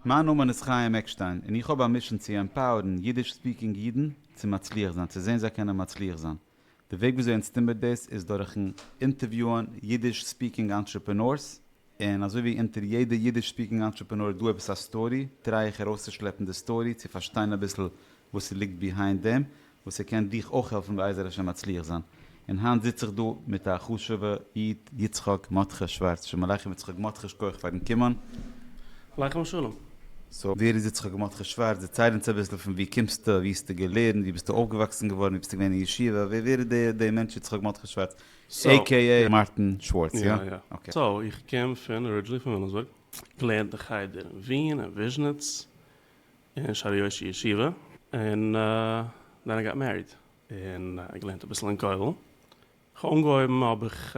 מיין נאמען איז חיים עקשטיין און איך האב א מישען צו עמפאוערן אידיש ספיקינג אידן צו מצליח זיין, צו זען זיי קענען מצליח זיין. די וועג וויאזוי אונז טון מיר דאס איז דורכ'ן אינטערוויוען אידיש ספיקינג אנטרעפענארס, און אזוי ווי אונטער יעדע אידיש ספיקינג אנטרעפענאר איז דא עפעס א סטארי, טריי איך ארויסצושלעפן די סטארי צו פארשטיין אביסל וואס ס'ליגט ביהיינד דעם, וואס ער קען דיך אויך העלפן בעזר השם מצליח זיין, און היינט זיץ איך דא מיט א חשובע איד יצחק מרדכי שווארץ, שלום עליכם יצחק מרדכי שכוח פארן קומען. עליכם השלום. סאו ווער איז יצחק מרדכי שווארץ, דערצייל אונז אביסל פון ווי קומסטו, ווי האסטו געלערנט, ווי ביסטו אויפגעוואקסן געווארן, ווי ביסטו געווען אין ישיבה, ווער ווער איז דער דער מענטש יצחק מרדכי שווארץ עי קעי עי מארטין שווארץ, יא? אקעי. סאו איך קום פון ארידזשינעלי פון וויליאמסבורג, געלערנט אין חדר אין ווין און וויזשניץ, אין שערי יושר ישיבה, און דען איי גאט מעריד, און איי געלערנט אביסל אין כולל, כ'האב אנגעהויבן האב איך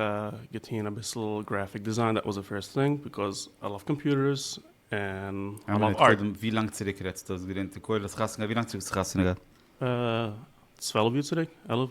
געטוהן אביסל גרעפיק דיזיין, דעט וואס די פירסט טינג, ביקאוז איי לאוו קאמפיוטערס, און איי לאוו ארט. ווי לאנג צוריק רעדסטו האסט געלערנט אין כולל, האסט חתונה געהאט, ווי לאנג צוריק האסט חתונה געהאט? צוועלף יאר צוריק, עלף.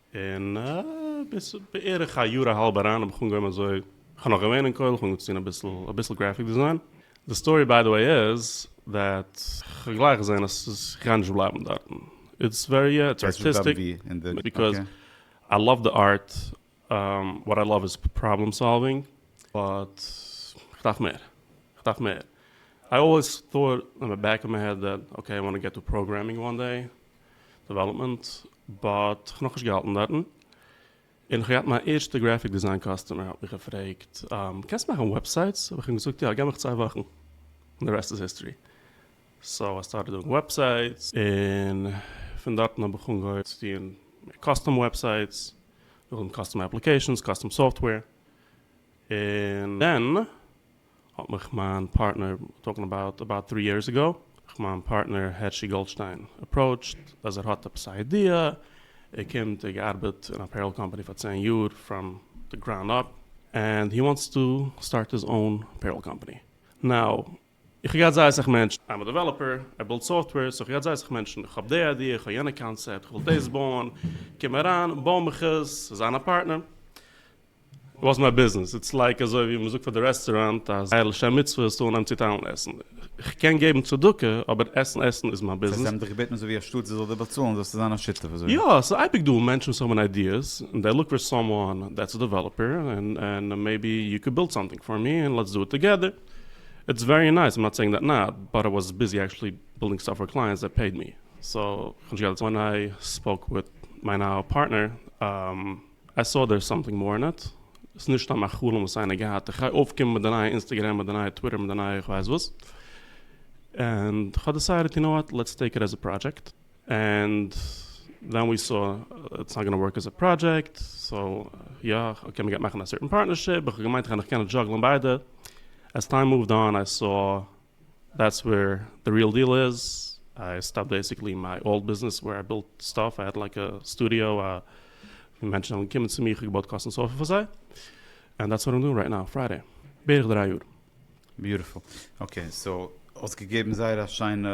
און ביז בערך א יאר א האלב אריין האב איך אנגעהויבן אזוי, איך האב נאך געווען אין כולל, איך האב אנגעהויבן צו טון אביסל אביסל גרעפיק דעזיין, די סטארי ביי די וועי איז דעט איך האב גלייך געזען אז ס'איז איך גיי נישט בלייבן דארטן, איטס ווערי יא איטס ארטיסטיק, ביקאז איי לאוו די ארט, וואט איי לאוו איז פראבלעם סאלווינג, באט איך דארף מער, איך דארף מער, איי אלוועיס טאוט אין די בעק אוו מיי העד דעט אקעי איי וואנט טו געט טו פראגרעמינג וואן דעי, דעוועלאפמענט באט כ'האב נאכנישט געהאלטן דארטן און כ'האב געהאט מיין ערשטע גרעפיק דיזיין קאסטומער האט מיך געפרעגט קענסט מאכן וועבסייטס? האב איך אים געזאגט יא, געב מיך צוויי וואכן און די רעסט איז היסטארי סאו איי סטארטעד דואינג וועבסייטס און פון דארטן האב איך אנגעהויבן צו טוען מער קאסטום וועבסייטס, נאכדעם קאסטום אפליקעישאנס, קאסטום סאפטוועיר און דען. האט מיך מיין פארטנער, טאלקינג אבאוט אבאוט טרי יערס עגאו, מיך מיין פארטנער הערשי גאלדשטיין אפראוטשט אז ער האט עפעס א איידיע, ער קומט, ער האט געארבעט אין א פעיראל קאמפאני פאר צען יאר פראם די גראונד אפ, ענד הי וואנטס טו סטארט היז אוין פעיראל קאמפאני נאו, איך האב געהאט זייער אסאך מענטשן, איים א דעוועלאפער, ער בילד סאפטוועיר, סאו איך האב געהאט זייער אסאך מענטשן, איך האב די איידיע, איך האב יענע קאנצעפט, איך וויל דאס בויען, קום אריין, בוי מיך עס, זיי זיין א פארטנער. וואס מיי ביזנעס? איטס לייק אזוי ווי מ'זאגט פאר די רעסטוראנט אז א לשם מצוה איז טאן אן צוטיילן עסן. כ'קען געבן צדקה, אבער עסן עסן איז מיין ביזנעס. ס'הייסט זיי האבן דיך געבעטן אזוי ווי א שטאט זי זאל דיר באצאלן זאלסטו זיין א שותף אזוי? יא, ס'איז אייביג דא מענטשן וואס האבן איידיעס, און דעי לוק פאר סאמוואן דעטס א דעוועלאפער, און מעיבי יו קען בילד סאמטינג פאר מי און לעטס דא איט טאגעדער. איטס ווערי נייס, איים נאט סעינג דעט נאט, באט איי וואס ביזי עקשעלי בילדינג סטאף פאר קלייענטס דעט פעיד מי. סאו, כ'האב נישט געהאט א צ. ווען איי ספאוק וויט מיין אהל פארטנער. איי סאו דערס סאמטינג מאר אין איט, ס'איז נישט סתם א חלום וואס איינער געהאט, איך גיי אויפקומען מיט די נייע אינסטעגרעם, מיט די נייע טוויטער, מיט די נייע איך ווייס וואס, ענד כ'האב דעסיידעד יו נאו וואט, לעטס טעיק איט עז א פראדזשעקט, ענד דען ווי סא איטס נאט גאנא ווארק עז א פראדזשעקט, סאו יא אקעי מ'גייט מאכן א סערטען פארטנערשיפ, איך האב געמיינט איך קען נאך דזשאגלען ביידע, עז טיים מואווד אן איי סא. דעטס ווער די ריעל דיעל איז, איי סטאפד בעסיקלי מיי אולד ביזנעס ווער איי בילט סטאף, איי העד לייק א סטודיאו ווי מענטשן זענען געקומען צו מיר, איך האב געבויט קאסטום סאפער פאר זיי, ענד דעטס וואט איים דואינג רייט נאו, פריידעי, בערך דריי יאר. ביוטיפול, אקעי סאו האסט געגעבן זייער א שיינע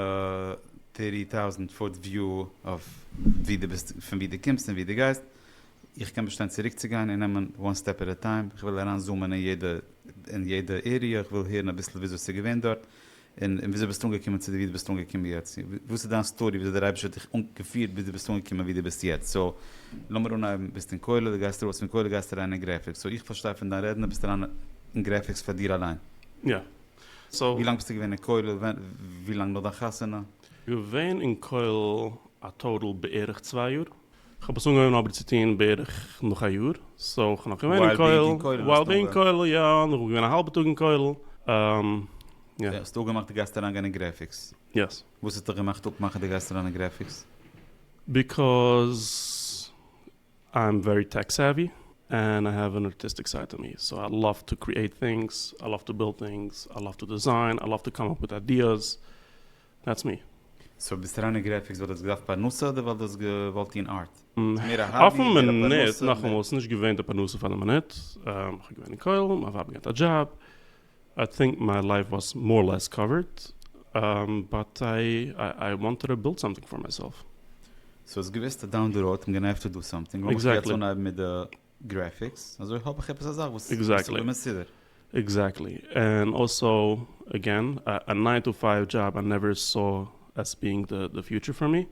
טערטי טאוזענט פוט וויו אויף ווי די ביסט, פון ווי די קומסט און ווי די גייסט, איך קען באשטיין צוריקצוגיין און נעמען וואן סטעפ עט א טיים, איך וויל אריין זומען אין יעדע אין יעדע עריע, איך וויל הערן אביסל וויאזוי ס'איז געווען דארט, און און וויאזוי ביסטו אנגעקומען צו די ווי די ביסט אנגעקומען יעצט, וואס איז דיין סטארי וויאזוי דער אייבערשטער האט דיך געפירט ביז די ביסט אנגעקומען ווי די ביסט יעצט, סאו לאמיר אנהייבן, ביסט אין כולל, די גייסט ארויס פון כולל גייסט אריין אין גרעפיקס, סאו איך פארשטיי פון דיין רעדן די ביסט אריין אין גרעפיקס פאר דיר אליין. יא. סאו. ווי לאנג ביסטו געווען אין כולל ווען ווי לאנג נאך דיין חתונה? געווען אין כולל א טאטאל בערך צוויי יאר. כ'האב עס אנגעהויבן אבער צו טון בערך נאך א יאר, סאו כ'בין נאך געווען אין כולל, ווייל בינג אין כולל יא, און כ'בין געווען א האלבע טאג אין כולל, יא. האסט אפגעמאכט די גייסט אריינגיין אין גרעפיקס? יעס. וואס האט דיך געמאכט אפמאכן די גייסט אריין אין גרעפיקס? ביקאוז איי עם ווערי טעק סעווי, ענד איי העוו ען ארטיסטיק סייד טו מי, סאו איי לאוו טו קריעט טינגס, איי לאוו טו בילד טינגס, איי לאוו טו דיזיין, איי לאוו טו קאם אפ וויט איידיעס, דעטס מי. סאו ביסט אריין אין גרעפיקס ווייל דו האסט געדארפט פרנסה אדער ווייל דו האסט געוואלט טון ארט? ס'איז מער א האבי, אויפן מער א פרנסה. מינוט, נאכאמאל, ס'איז נישט געווען די פרנסה פאר די מינוט. כ'בין געווען אין כולל, מיין ווייב האט געהאט א דזשאב. איי טינק מיי לייף וואס מאר אר לעס קאווערד. באט איי איי וואנטעד טו בילד סאמטינג פאר מיי סעלף. סאו האסט געוואוסט אז דאון די ראוד קומט גענאר עפטער דו סאמטינג. לאמיך יעצט אנהייבן מיט די. גרעפיקס, אזוי האב איך עפעס א זאך וואס איז אזוי מסודר. עקזעקטלי, ענד אלסאו, עגעין, א ניין טו פייוו דזשאב איי נעווער סאו עס בינג די פיוטשער פאר מי.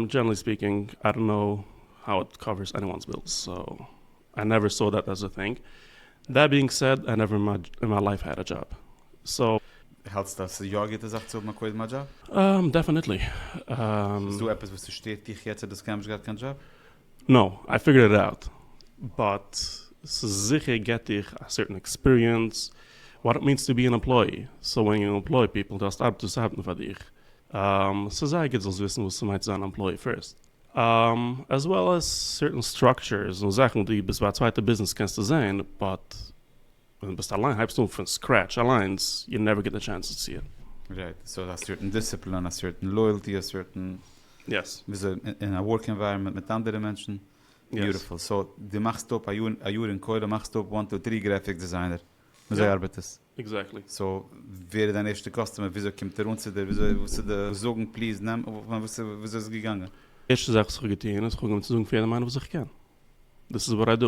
דזשענערלי ספיקינג, איי דאנט קנאו האו איט קאווערס עניוואנס בילס, סאו איי נעווער סאו דעט עז א טינג. דעט בינג סעד, איי נעווער אין מיי לייף העד א דזשאב, סאו. האלטסטו אז ס'איז יא א גוטע זאך צו האבן א קודם א דזשאב? דעפענעטלי. איז דא עפעס וואס ס'שטערט דיך יעצט אז דו האסט קיינמאל נישט געהאט קיין דזשאב? נאו, איי פיגערד איט אוט, באט ס'איז זיכער געט דיך א סערטען עקספיריענס וואט איט מיענס טו בי אן עמפלאי, סאו ווען יו עמפלאי פיפעל דו האסט ארבעטערס וואס ארבעטן פאר דיך, ס'איז זייער גוט זאלסט וויסן וואס ס'מיינט צו זיין אן עמפלאי פירסט, עז וועל עז סערטען סטראקטשערס און זאכן ווי ביז ביי א צווייטע ביזנעס קענסטו זעהן, באט. ווען ביסט אליין הייבסט אן פון סקרעטש אליינס יו נעווער געט די טשענס צו ציען. רייט, סאו א סערטען דיסציפלין, א סערטען לויעלטי, א סערטען וויאזוי אין א ווארק ענווייראמענט מיט אנדערע מענטשן, ביוטיפול, סאו דו מאכסט אפ א יאר א יאר אין כולל מאכסט אפ וואן טו טרי גרעפיק דעזיינער, אזוי ארבעט עס? עקזעקטלי. סאו ווער איז דיין ערשטע קאסטומער, וויאזוי קומט ער אן צו דיר, וויאזוי וואס איז די זאגן פליז נעם וויאזוי איז עס געגאנגען? ערשטע זאך וואס איך האב געטון איז איך האב אנגעהויבן צו זאגן פאר יעדעם איינעם וואס איך קען, דאס איז וואט איי דא,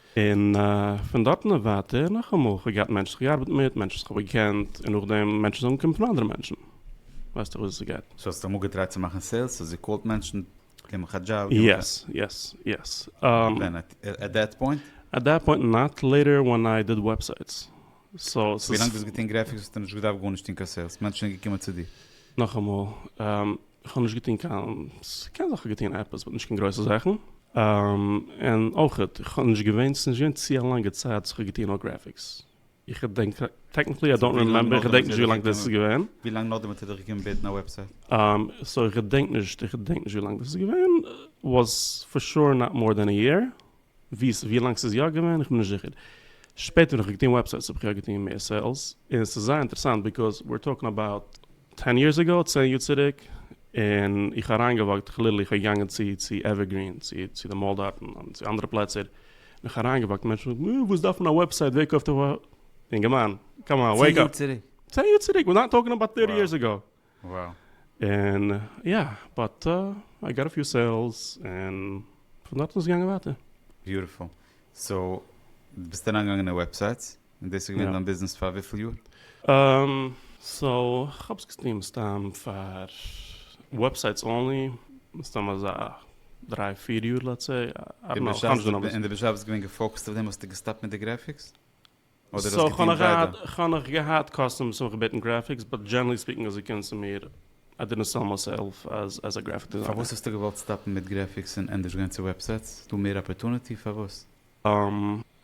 און פון דארטן און ווייטער נאכאמאל, כ'האב געהאט מענטשן וואס כ'האב געארבעט מיט, מענטשן וואס כ'האב געקענט, און נאכדעם מענטשן וואס האבן געקומט פון אנדערע מענטשן, ווייסט איר וואס עס גייט. סאו האסט אמאל געטרייט צו מאכן סעילס? סאו זי קאלט מענטשן, גיב מיך א דזשאב, גיב מיך א. יעס, יעס, יעס. ווען? עט דעט פוינט? עט דעט פוינט נאט, לעיטער ווען איי דיד וועבסייטס. ווילאנג דו האסט געטון גרעפיקס האסטו נישט געדארפט גארנישט טון קיין סעילס מענטשן זענען געקומען צו דיר. נאכאמאל, איך האב נישט געטון קיין, ס'קען זיך איך האב געטון עפעס באט נישט קיין גרויסע זאכן, און אויכעט איך האב נישט געווען, ס'איז נישט געווען צו א לאנגע צייט וואס איך האב געטון נאר גרעפיקס, איך געדענק טעקניקלי איי דאנט רימעמבער, איך געדענק נישט ווילאנג דאס איז געווען. ווילאנג נאכדעם האט ער דיך געקומען בעטן א וועבסייט? סאו איך געדענק נישט, איך געדענק נישט ווילאנג דאס איז געווען, וואס פאר שור נאט מאר דען א יער. ווי לאנג ס'איז יא געווען איך בין נישט זיכער, שפעטער ווען איך האב געטון וועבסייטס האב איך יא געטון מער סעילס, און ס'איז זייער אינטערעסאנט ביקאוז וויר טאלקינג אבאוט טען יערס אגאו, צען יאר צוריק, און איך האב אריינגעוואקט כליל איך האב געגאנגען צו צו עווערגרין צו צו די מאל דארטן און צו אנדערע פלעצער און איך האב אריינגעוואקט מענטשן זאגן אה וואס דארף מען א וועבסייט ווער קויפט א ווע. יונגערמאן קאם אן וועיק אפ צען יאר צוריק. צען יאר צוריק וויר נאט טאלקינג אבאוט טערטי יערס אגאו. וואו. און יא, באט איי גאט א פיו סעילס, און פון דארטן איז עס געגאנגען ווייטער. ביוטיפול. סאו, דו ביסט אריינגעגאנגען אין וועבסייטס, און דאס איז געווען דיין ביזנעס פאר וויפיל יאר? אהמ, סאו, כ'האב עס געטון מסתם פאר וועבסייטס אנלי, מסתם אזא דריי פיר יאר לעטס סעי, איי דאנט נאו, כ'האב נישט גענוג. און דו ביסט אבוויעסלי געווען געפאוקעסט אויף דעם, האסטו געסטאפט מיט די גרעפיקס? אדער האסט געטון ביידע? סאו כאנאך געהאט קאסטום סמך בעטן גרעפיקס באט דזשענערלי ספיקינג איז אגענסט צו מיר איי דידנט סעל מיי סעלף עז א גרעפיק דיזיינער. פארוואס האסטו געוואלט סטאפן מיט גרעפיקס און ענדערש גיין צו וועבסייטס? איז דא מער אפערטונעטי? פארוואס?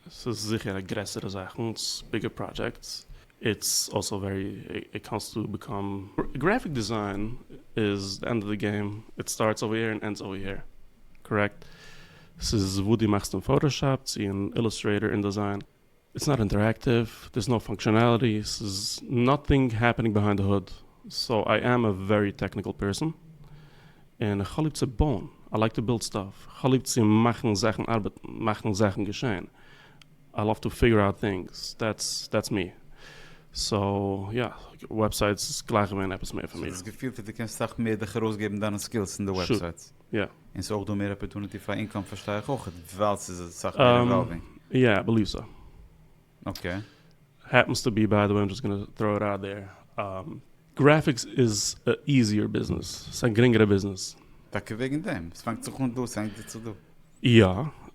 ס'איז זיכער א גרעסערע זאך און איטס ביגער פראדזשעקטס איטס אלסא ווערי עי קאנסטו בעקאם גרעפיק דיזיין איז די ענד אוו די געים איט סטארטס אווער העיר און ענדס אווער העיר קארעקט ס'איז וואו דו מאכסט אין פאטאשאפ צו אין אילוסטרעיטאר אינדעזיין. איטס נאט אינטערעקטיוו, דערס נאו פאנקשענעליטי, ס'איז נאטינג העפענינג ביהיינד די הוד. סאו איי עם א ווערי טעקניקל פערסאן, און איך האב ליב צו בויען, איי לייק טו בילד סטאף, איך האב ליב צו מאכן זאכן ארבעטן, מאכן זאכן געשען, איי לאוו טו פיגור אוט טינגס, דעטס מי. סאו יא, וועבסייטס איז גלייך געווען עפעס מער פאר מיר. ס'איז דאס געפיל פון דו קענסט סאך מער דיך ארויסגעבן דיינע סקילס אין די וועבסייטס. יא. און ס'אויך דא מער אפערטוניטי פאר אינקאם פארשטיי איך אויכעט ווייל ס'איז אסאך מער אינוואלווינג. יא איי בעליוו סא. אקעי. העפענס טו בי ביי די וועי איים דזשאסט גאנא טראו איט אוט דעיר גרעפיקס איז א איזיער ביזנעס ס'איז א גרינגערע ביזנעס. טאקע וועגן דעם? ס'פאנגט זיך אן דא ס'ענדיגט זיך צו דא. יא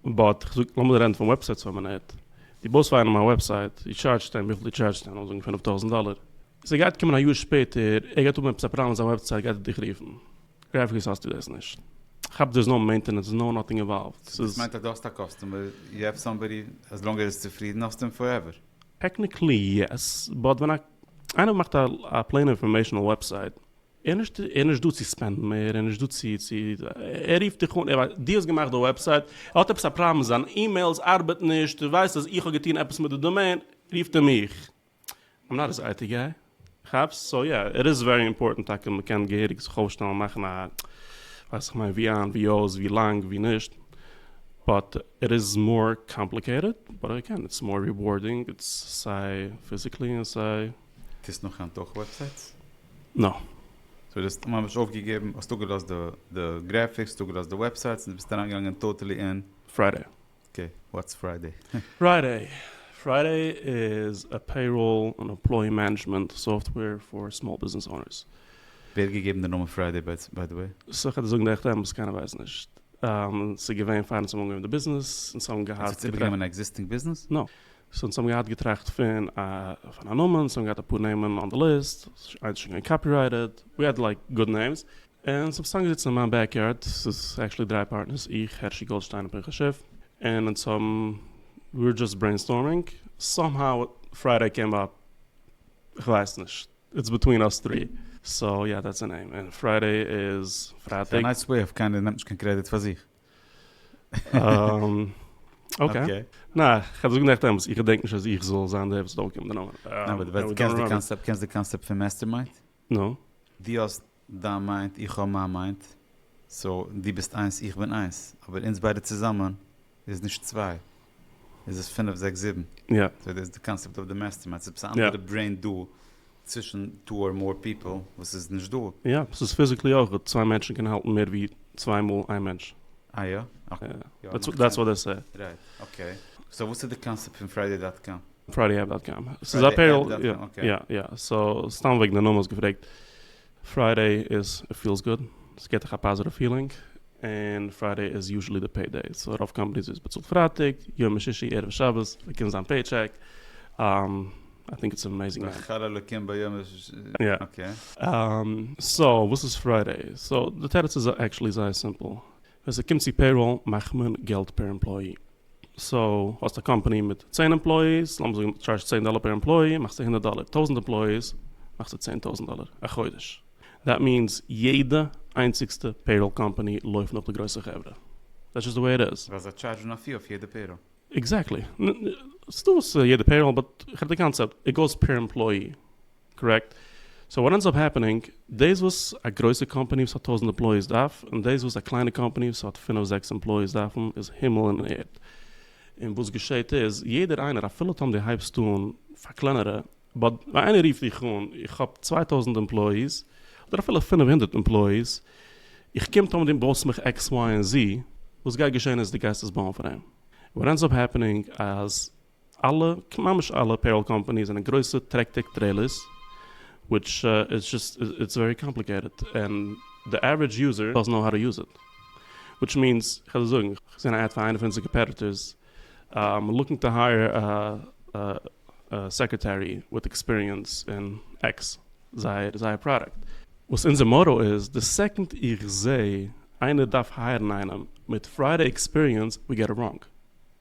באט כ'זאג לאמיר רעדן פון וועבסייטס פאר א מינוט דו בויסט פאר איינעם א וועבסייט דו טשארדזשסט אים וויפיל דו טשארדזשסט אים לאמיר זאגן פֿינף טויזנט דאלער ס'גייט קומען א יאר שפעטער ער גייט האבן עפעס א פראבלעם מיט זיין וועבסייט גייט ער דיך רופן. גרעפיקס האסטו דאס נישט. כ'האב דערס נאו מעינטענענס נאו נאטינג אינוואלווד. סאו דאס מיינט אז דו האסט א קאסטומער, יו העוו סאמבאדי, עז לאנג ער איז צופרידן האסטו אים פארעווער. טעקניקלי יעס, באט ווען איינער מאכט א פלעין אינפארמעישאנעל וועבסייט, ער איז נישט דא צו ספענדן מער, ער איז נישט דא צו צו, ער רופט דיך אן, ער ווייסט דו האסט געמאכט די וועבסייט, ער האט עפעס א פראבלעם זיין אימעילס ארבעט נישט, ער ווייסט אז איך האב געטון עפעס מיט די דאמעין, רופט ער מיך. איים נאט היז אייטי גיי, כאפסט? סאו יא, איט איז ווערי אימפארטענט טאקע מען קען געהעריג זיך אויפשטעלן מאכן א ווייס איך מיין ווי איין ווי אויס ווי לאנג ווי נישט, באט איט איז מאר קאמפליקעיטעד, באט אגעין איט איז מאר ריווארדינג, איט איז סיי פיזיקלי און סיי. טוסט נאך היינט אויך וועבסייטס? נא. סאו דו האסט ממש אויפגעגעבן, האסט אפגעלאזט די גרעפיקס, האסט אפגעלאזט די וועבסייטס, און דו ביסט אריינגעגאנגען טאטעלי אין. פריידעי. אקעי, וואטס פריידעי? פריידעי? פריידעי איז א פעיראל און עמפלאי מענעדזשמענט סאפטוועיר פאר סמאל ביזנעס אונערס. ווער האט געגעבן די נאמען פריידעי ביי די וועי? סה כדי זאגן די עכטע אמת קיינער ווייסט נישט. ס'איז געווען פאר אונז האבן אנגעהויבן די ביזנעס אונז האבן געהאט. אונז האט איבערגענומען א עקזיסטינג ביזנעס? נא. סאו אונז האבן געהאט געטראכט פון א פון א נאמען, אונז האבן געהאט אפאר נעמען אן די ליסט, איינס איז שוין געווען קאפירייטעד, ווי האד לייק גוד נעימס. און ס'האב סתם געזיצן אין מיין בעק יארד, ס'איז עקשעלי דריי פארטנערס, איך, הערשי גאלדשטיין און פנחס שיף, און אונז האבן, ווי ווער דזשאסט ברעינסטארמינג, סאם האו פריידעי קעם אפ, כ'ווייס נישט, איטס ביטווין אס טרי, סאו יא דעטס א נעים, און פריידעי איז פרייטאג. ס'איז א נייס וועי אוו קיינער נעמט נישט קיין קרעדיט פאר זיך. אקעי. נעה, כ'האב דאס געדעכט אמת, איך געדענק נישט אז איך זאל זיין דער וואס האט אויפגעהויבן די נאמען. נעה, אבער דו קענסט די קאנסעפט פון מעסטערמיינד? נא. דו האסט דיין מיינד איך האב מיין מיינד, סאו דו ביסט איינס איך בין איינס, אבער אונז ביידע צוזאמען איז נישט צוויי, איז עס פינף זעקס זיבן, יא. סאו דאס איז די קאנסעפט אוו די מעסטערמיינד, ס'איז עפעס א אנדערע ברעין דא צווישן טו אר מאר פיפל וואס איז נישט דא. יא, ס'איז פיזיקלי אויך דא, צוויי מענטשן קענען האלטן מער ווי צוויי מאל איין מענטש. אה יא? אקעי. דעטס וואט דעי סעי. רייט, אקעי. סאו וואס איז די קאנסעפט פון פריידעי דאט קאם? פריידי עפפ דאט קאם. ס'איז א פעיראל, פריידי עפפ דאט קאם, אקעי. יא יא, סאו סתם וועגן די נאמען האסט געפרעגט, פריידי איז איט פילס גוד, ס'געט דיך א פאזיטיוו פילינג, און פריידי איז יוזשעלי די פעי דעי, סאו רוב קאמפאניס ווערט באצאלט פרייטאג, ימי שישי, ערבי שבת, באקומט זיין פעי טשעק, איי טינק איטס עמעזינג מען. ואכל אלקים ביום הש ס, יא. אקעי. סאו וואס איז פריידי? סאו די תירוץ איז עקטשעלי זייער סימפל, ווען ס'קומט צו פעיראל מאכט מען געלט פער עמפלאי. סאו האסט א קאמפאני מיט צען עמפלאיס, לאמיר זאגן טשארזשסט צען דאלער פער עמפלאי, מאכסטו הונדערט דאלער. טויזנט עמפלאיס, מאכסטו צען טויזנט דאלער א חודש. דעט מיענס יעדע איינציגסטע פעיראל קאמפאני לויפט נאך די גרויסע חברה. דעטס דזשאסט די וועי איט איז. ווייל זיי טשארזשן א פי אויף יעדע פעיראל. עקזעקטלי. ס'דא וואס יעדע פעיראל, באט כ'רעד די קאנצעפט. איט גאוס פער עמפלאי. קארעקט. סאו וואט ענדס אפ העפענינג, דאס וואס א גרויסע קאמפאני וואס האט טויזנט עמפלאיס דארף, און דאס וואס א קליינע קאמפאני וואס האט פינף זעקס עמפלאיס דארפן, איז הימל און ערד. און וואס געשעהט איז, יעדער איינער, אפילו טאמ די הייבסט אן פאר קלענערע, באט ווען איינער רופט דיך אן, איך האב צוויי טויזנט עמפלאיס, אדער אפילו פינף הונדערט עמפלאיס, איך קום טאמ די בויסט מיך עקס וויי און זי, וואס גייט געשעהן איז די גייסט עס בויען פאר אים. וואט ענדס אפ העפענינג, אז אלע, ממש אלע פעיראל קאמפאניס זענען גרויסע טרעקטעק טרעילערס, וויטש איז זשאסט, איטס ווערי קאמפליקעיטעד, און די עווערידזש יוזער דאזענט נאו האו טו יוז איט, וויטש מיענס, כ'וועל דיר זאגן, איך זען א עד פאר איינע פון אונזערע קאמפעטיטארס, איים לוקינג טו הייער א סעקרעטערי וויט עקספיריענס אין עקס, זייער זייער פראדאקט. וואס אונזער מאטא איז, די סעקאנד איך זעה איינער דארף הייערן איינעם מיט פרייער עקספיריענס, ווי געט איט ראנג.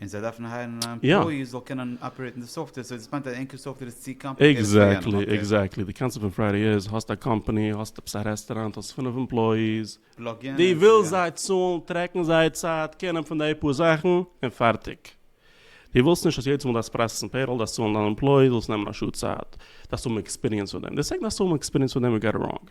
און זיי דארפן הייערן א עמפלאי וואס זאל קענען אפערעיטן די סאפטוועיר, סאו דאס מיינט אז ענקער סאפטוועיר איז צו קאמפליקעיטעד פאר יענעם, אקעי. עקזעקטלי, עקזעקטלי, די קאנצעפט פון פריידי איז, האסט א קאמפאני, האסט עפעס א רעסטעראנט, האסט פֿינף עמפלאיס, פלאג יענעם, די ווילסט יא. זיי צאלן, טרעקן זייער צייט, קענען פון די פאר זאכן, און פארטיג. די ווילסט נישט אז יעדעס מאל דארפסט פראסעסן פעיראל, דארפסט צאלן דיין עמפלאי, זאל עס נעמען א שעה צייט, דארפסט האבן עקספיריענס פאר דעם, די סעקנד האסט האבן עקספיריענס פאר דעם יו גאט איט ראנג.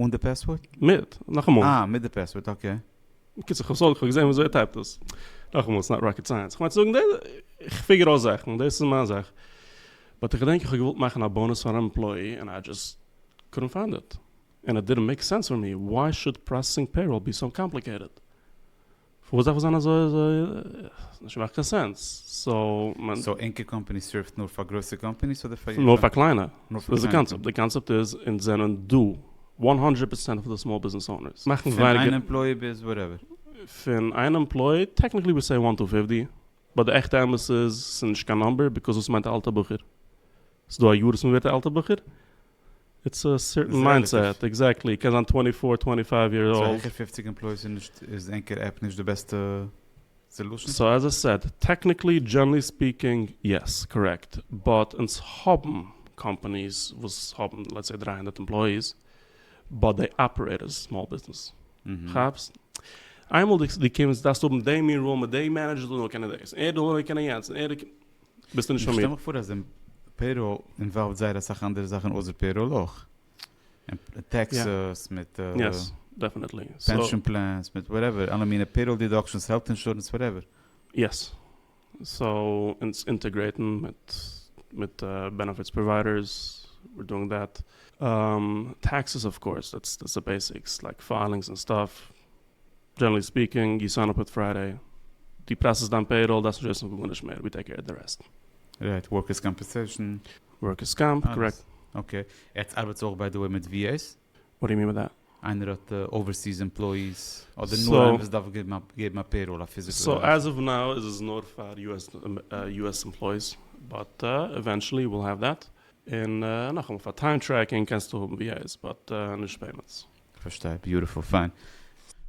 אן די פעסווארד? מיט, נאכאמאל. אה, מיט די פעסווארד, אקעי. בקיצור, כ'האב סך הכל געזען וויאזוי ער טייפט עס. נאכאמאל, ס'איז נאט ראקעט סייענס. כ'מיין צו זאגן, כ'פיגער אויס זאכן, דאס איז מיין זאך. באט איך געדענק איך האב געוואלט מאכן א באנוס פאר אן עמפלאי ענד איי דזשאסט קודנט פיינד איט. ענד איט דידנט מעיק סענס פאר מי, וואי שוד פראסעסינג פעיראל בי סאו קאמפליקעיטעד? פארוואס דארף עס זיין אזוי אזוי? נישט מאכט קיין סענס. סאו. סאו ענקער קאמפעני סערווט נאר פאר גרויסע קאמפעניס אדער פאר יעדע? נאר פאר קליינע. נאר פאר קליינע. סאיז די קאנצעפט איז אונז זענען דא וואן הונדרעט פערצענט פון די סמאל ביזנעס אונערס. מאכן ווייניגער. פון איין עמפלאי ביז וואטעווער. פון איין עמפלאי טעקניקלי ווי סעי וואן טו פיפטי באט די עכטע אמת איז סאיז נישט קיין נאמבער ביקאזוס מיינט א אלטע בחור. סאיז דא א יאר וואס מען ווערט א אלטע בחור איטס א סערטען מיינדסעט, עקזעקטלי, קען זיין טווענטי פאר, טווענטי פייוו יערס אולד. צו העכער פופציג עמפלויס איז נישט איז ענקער עפפ נישט די בעסטע סעלושען? סאו עז איי סעד, טעקניקלי דזשענלי ספיקינג יעס, קארעקט, באט אונז האבן קאמפאניס וואס האבן לעטס סעי דרײַ הונדערט עמפלאיס באט דעי אפערעיט עז סמאל ביזנעס, כאפסט? איינמאל דו קומסט דארפסטו האבן דעי מין רול מיט דעי מענעדזשער זאל נאר קענען דאס, ער זאל נאר קענען יענץ, ביסטו נישט פאר מיר. איך שטעל מיך פאר אז אין פעיראל אינוואלווד זייער אסאך אנדערע זאכן אויסער פעיראל אויך. טעקסעס מיט פענשאן פלענס מיט וואטעווער אלע מיני פעיראל דידאקשענס העלט אינשורענס וואטעווער. יעס. סאו אונז אינטעגרעיטן מיט מיט בענעפיטס פראוויידערס וויר דואינג דעט. טעקסעס אוו קאורס דעטס די בעסיקס לייק פיילינגס און סטאף. דזשענערלי ספיקינג, יו סיין אפ אוט פריידעי, דו פראסעסט דיין פעיראל, דארפסט נישט וויסן פון גארנישט מער, ווי טעיק קעיר אוט די רעסט. רייט, ווארקערס קאמפעסעשן. ווארקערס קאמפ, קארעקט. אקעי, עטס ארבעטס אויך ביי די וועי מיט VAs? וואט דו יו מין ביי דעט? איינער האט אווערסיס עמפלאיס? אדער נאר איינער וואס דארף געבן א פעיראל, א פיזיקעל? סאו עז אוו נאו איז עס נאר פאר יו עס עמפלאיס, באט עווענטשעלי וויל העוו דעט, און נאכאמאל פאר טיים טרעקינג קענסטו האבן VAs, באט נישט פעימענטס. כ'פארשטיי, ביוטיפול, פיין.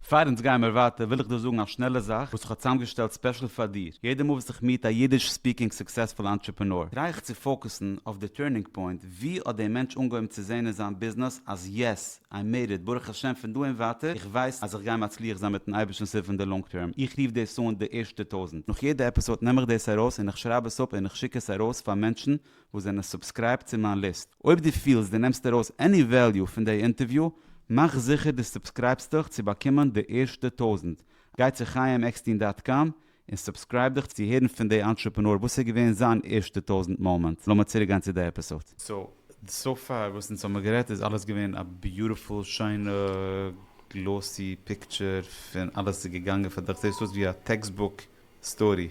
פאר אונז גיימער ווייטער וויל איך דיר זאגן א שנעלע זאך וואס איך האב צוזאמגעשטעלט ספעשל פאר דיר, יעדע מאל וואס איך מיעט א אידיש ספיקינג סוקסעספול אנטרעפענאר טריי איך צו פאוקעסן אויף די טורנינג פוינט, ווי האט דער מענטש אנגעהויבן צו זעהן אין זיין ביזנעס אז יעס, איי מעיד איט, ברוך השם פון דא און ווייטער איך ווייס אז איך גיי מצליח זיין מיטן אייבערשטנ'ס הילף אין די לאנג טערם, איך רוף דאס אן די ערשטע טויזענט, נאך יעדע עפיסאד נעם איך דאס ארויס און איך שרייב עס אפ און איך שיק עס ארויס פאר מענטשן וואס זענען סובסקרייבט צו מיין ליסט. אויב דו פילסט דו נעמסט ארויס עני וועליו פון דעי אינטערוויו, מאך זיכער דו סובסקרייבסט דיך צו באקומען די ערשטע טויזנט. גיי צו חיים עקסטין דאט קאם און סובסקרייב דיך צו הערן פון דעי אנטרעפענאר וואס איז געווען זיין ערשטע טויזנט מאמענט. לאמיר צוריק גיין צו די עפיסאד. סאו, סאו פאר וואס אונז האמיר גערעדט איז אלעס געווען א ביוטיפול שיינע גלאסי פיקטשער פון אלעס איז געגאנגען פאר דיך זעהסט אויס ווי א טעקסט בוק סטארי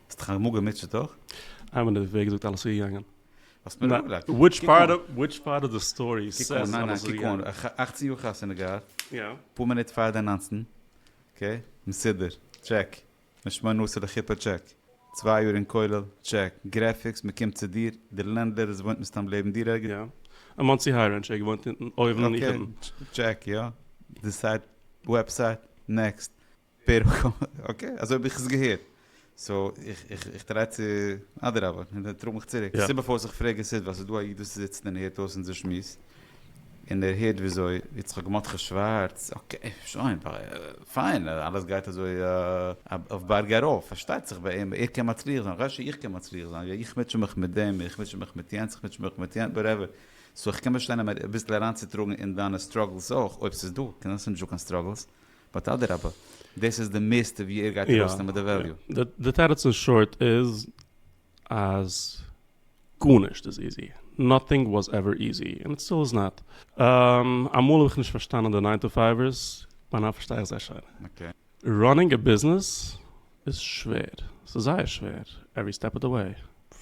האסט דיך אמאל געמוטשעט אויך? איי ווען די וועג איז אויך אלעס צוגעגאנגען. האסט מיר אפגעלייגט. וויטש פארט וויטש פארט אוו די סטארי קוק אן ניין ניין קוק אן אכצן יאר חתונה געהאט יא אפאר מינוט פאר די ניינצן אקעי מסודר טשעק בן שמונה עשר לכיפה טשעק צוויי יאר אין כולל טשעק גרעפיקס מ'קומט צו דיר די לענדלער איז וואוינט מסתם לעבן דיר ערגעץ יא אין מאנסי היי רענטש ער געוואוינט אונטן אויבן איך אונטן אקעי טשעק יא די סייט וועבסייט נעקסט. פערל קאווע, אקעי, אזוי האב איך עס געהערט. סאו איך טריי צו, אדרבה, טראג מיך צוריק. די סיבה פארוואס איך פרעג איז סידוו אז ס'איז דא א איד וואס זיצט און הערט אויס אונזער שמועס, און ער הערט וויאזוי יצחק מרדכי שווארץ, אקעי, שוין, פיין, אלעס גייט אזוי אויף בארג ארויף, פארשטייט זיך ביי אים, ער קען מצליח זיין, הלוואי שאיך קען מצליח זיין, איך מוטשע מיך מיט דעם, איך מוטשע מיך מיט יענץ, איך מוטשע מיך מיט יענץ, וואטעווער. סאו איך קען באשטיין אים אביסל אריינצוטראגן אין דיינע סטראגלס אויך, אויב ס'איז דא, קען זיין ס'איז נישטא קיין סטראגלס. באט אדרבה, דאס איז די מערסטע ווי ער גייט ארויסנעמען די וועליו. די תירוץ אין שארט איז אז גארנישט איז איזי, נאטינג וואס עווער איזי, און איט סטיל איז נאט. אמאל האב איך נישט פארשטאנען די ניין טו פייווערס, ביי נאו פארשטיי איך זיי שיין. ראנינג א ביזנעס איז שווער, ס'איז זייער שווער, עווערי סטעפ אוו די וועי,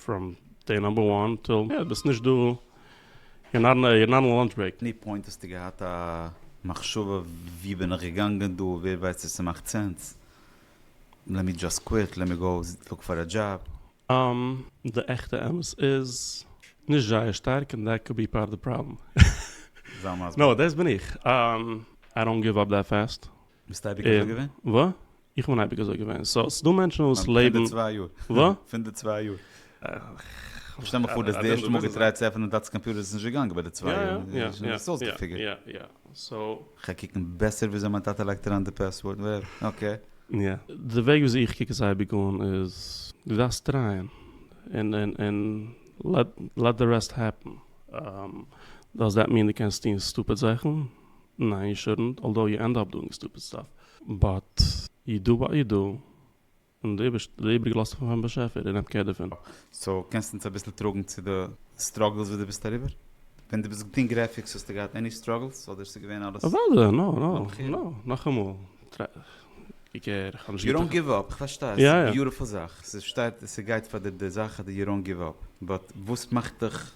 פראם דעי נאמבער וואן טיל יא, ביסט נישט דא, יור נאט אן א לאנטש ברעיק. עני פוינט האסטו געהאט א מחשבה ווי בין איך געגאנגען דא, ווער ווייסט צו ס'מאכט סענס, לעט מי דזשאסט קוויט, לעט מי גאו לוק פאר א דזשאב. די עכטע אמת איז נישט זייער שטארק און דעט קאוד בי פארט אוו די פראבלעם. זיי מסביר. נאופ, דאס בין איך, איי דאנט גיוו אפ דעט פעסט. ביסט אייביג אזוי געווען? ווא. איך בין אייביג אזוי געווען, סא ס'דא מענטשן וואס לעבן. פון די צוויי יאר. וואס? פון די צוויי יאר. שטעל מיר פאר דו האסט די ערשטע מאל געטרייט צו עפענען דאטס קאמפיוטער איז נישט געגאנגען ביי די צוויי יאר. יא יא יא. ביסט אויסגעפיגערט. יא יא סא. כ'גיי קוקן בעסער וויאזוי מיין טאטע לייגט אריין די פעסווארד ווער. אקעי. יא. די וועג וויאזוי איך קוק עס אייביג אן איז, דו דארפסט טרייען. און און און לעט דע רעסט העפען. דאז דעט מין דו קענסט טון סטופיד זאכן? נאו יו שודנט, אלדאו יו ענד אפ דואינג סטופיד סטאף, באט ידו ביי ידו, און די איבריגע לאזט זיך פארן באשעפער און נעמט קער דערפון. סאו קענסט אונז אביסל טראגן צו די סטראגלס וואס דו ביסט אריבער? ווען דו ביסט געטון גרעפיקס האסטו געהאט עני סטראגלס אדער ס'איז געווען אלעס? אוודאי, נאו נאו נאו, נאכאמאל, קוק הער, איך האב נישט געטראכט. יו דאונט גיוו אפ, איך פארשטיי, עס איז א ביוטיפול זאך, ס'שטייט, ס'גייט פאר די זאך אז יו דאונט גיוו אפ, באט וואס מאכט דיך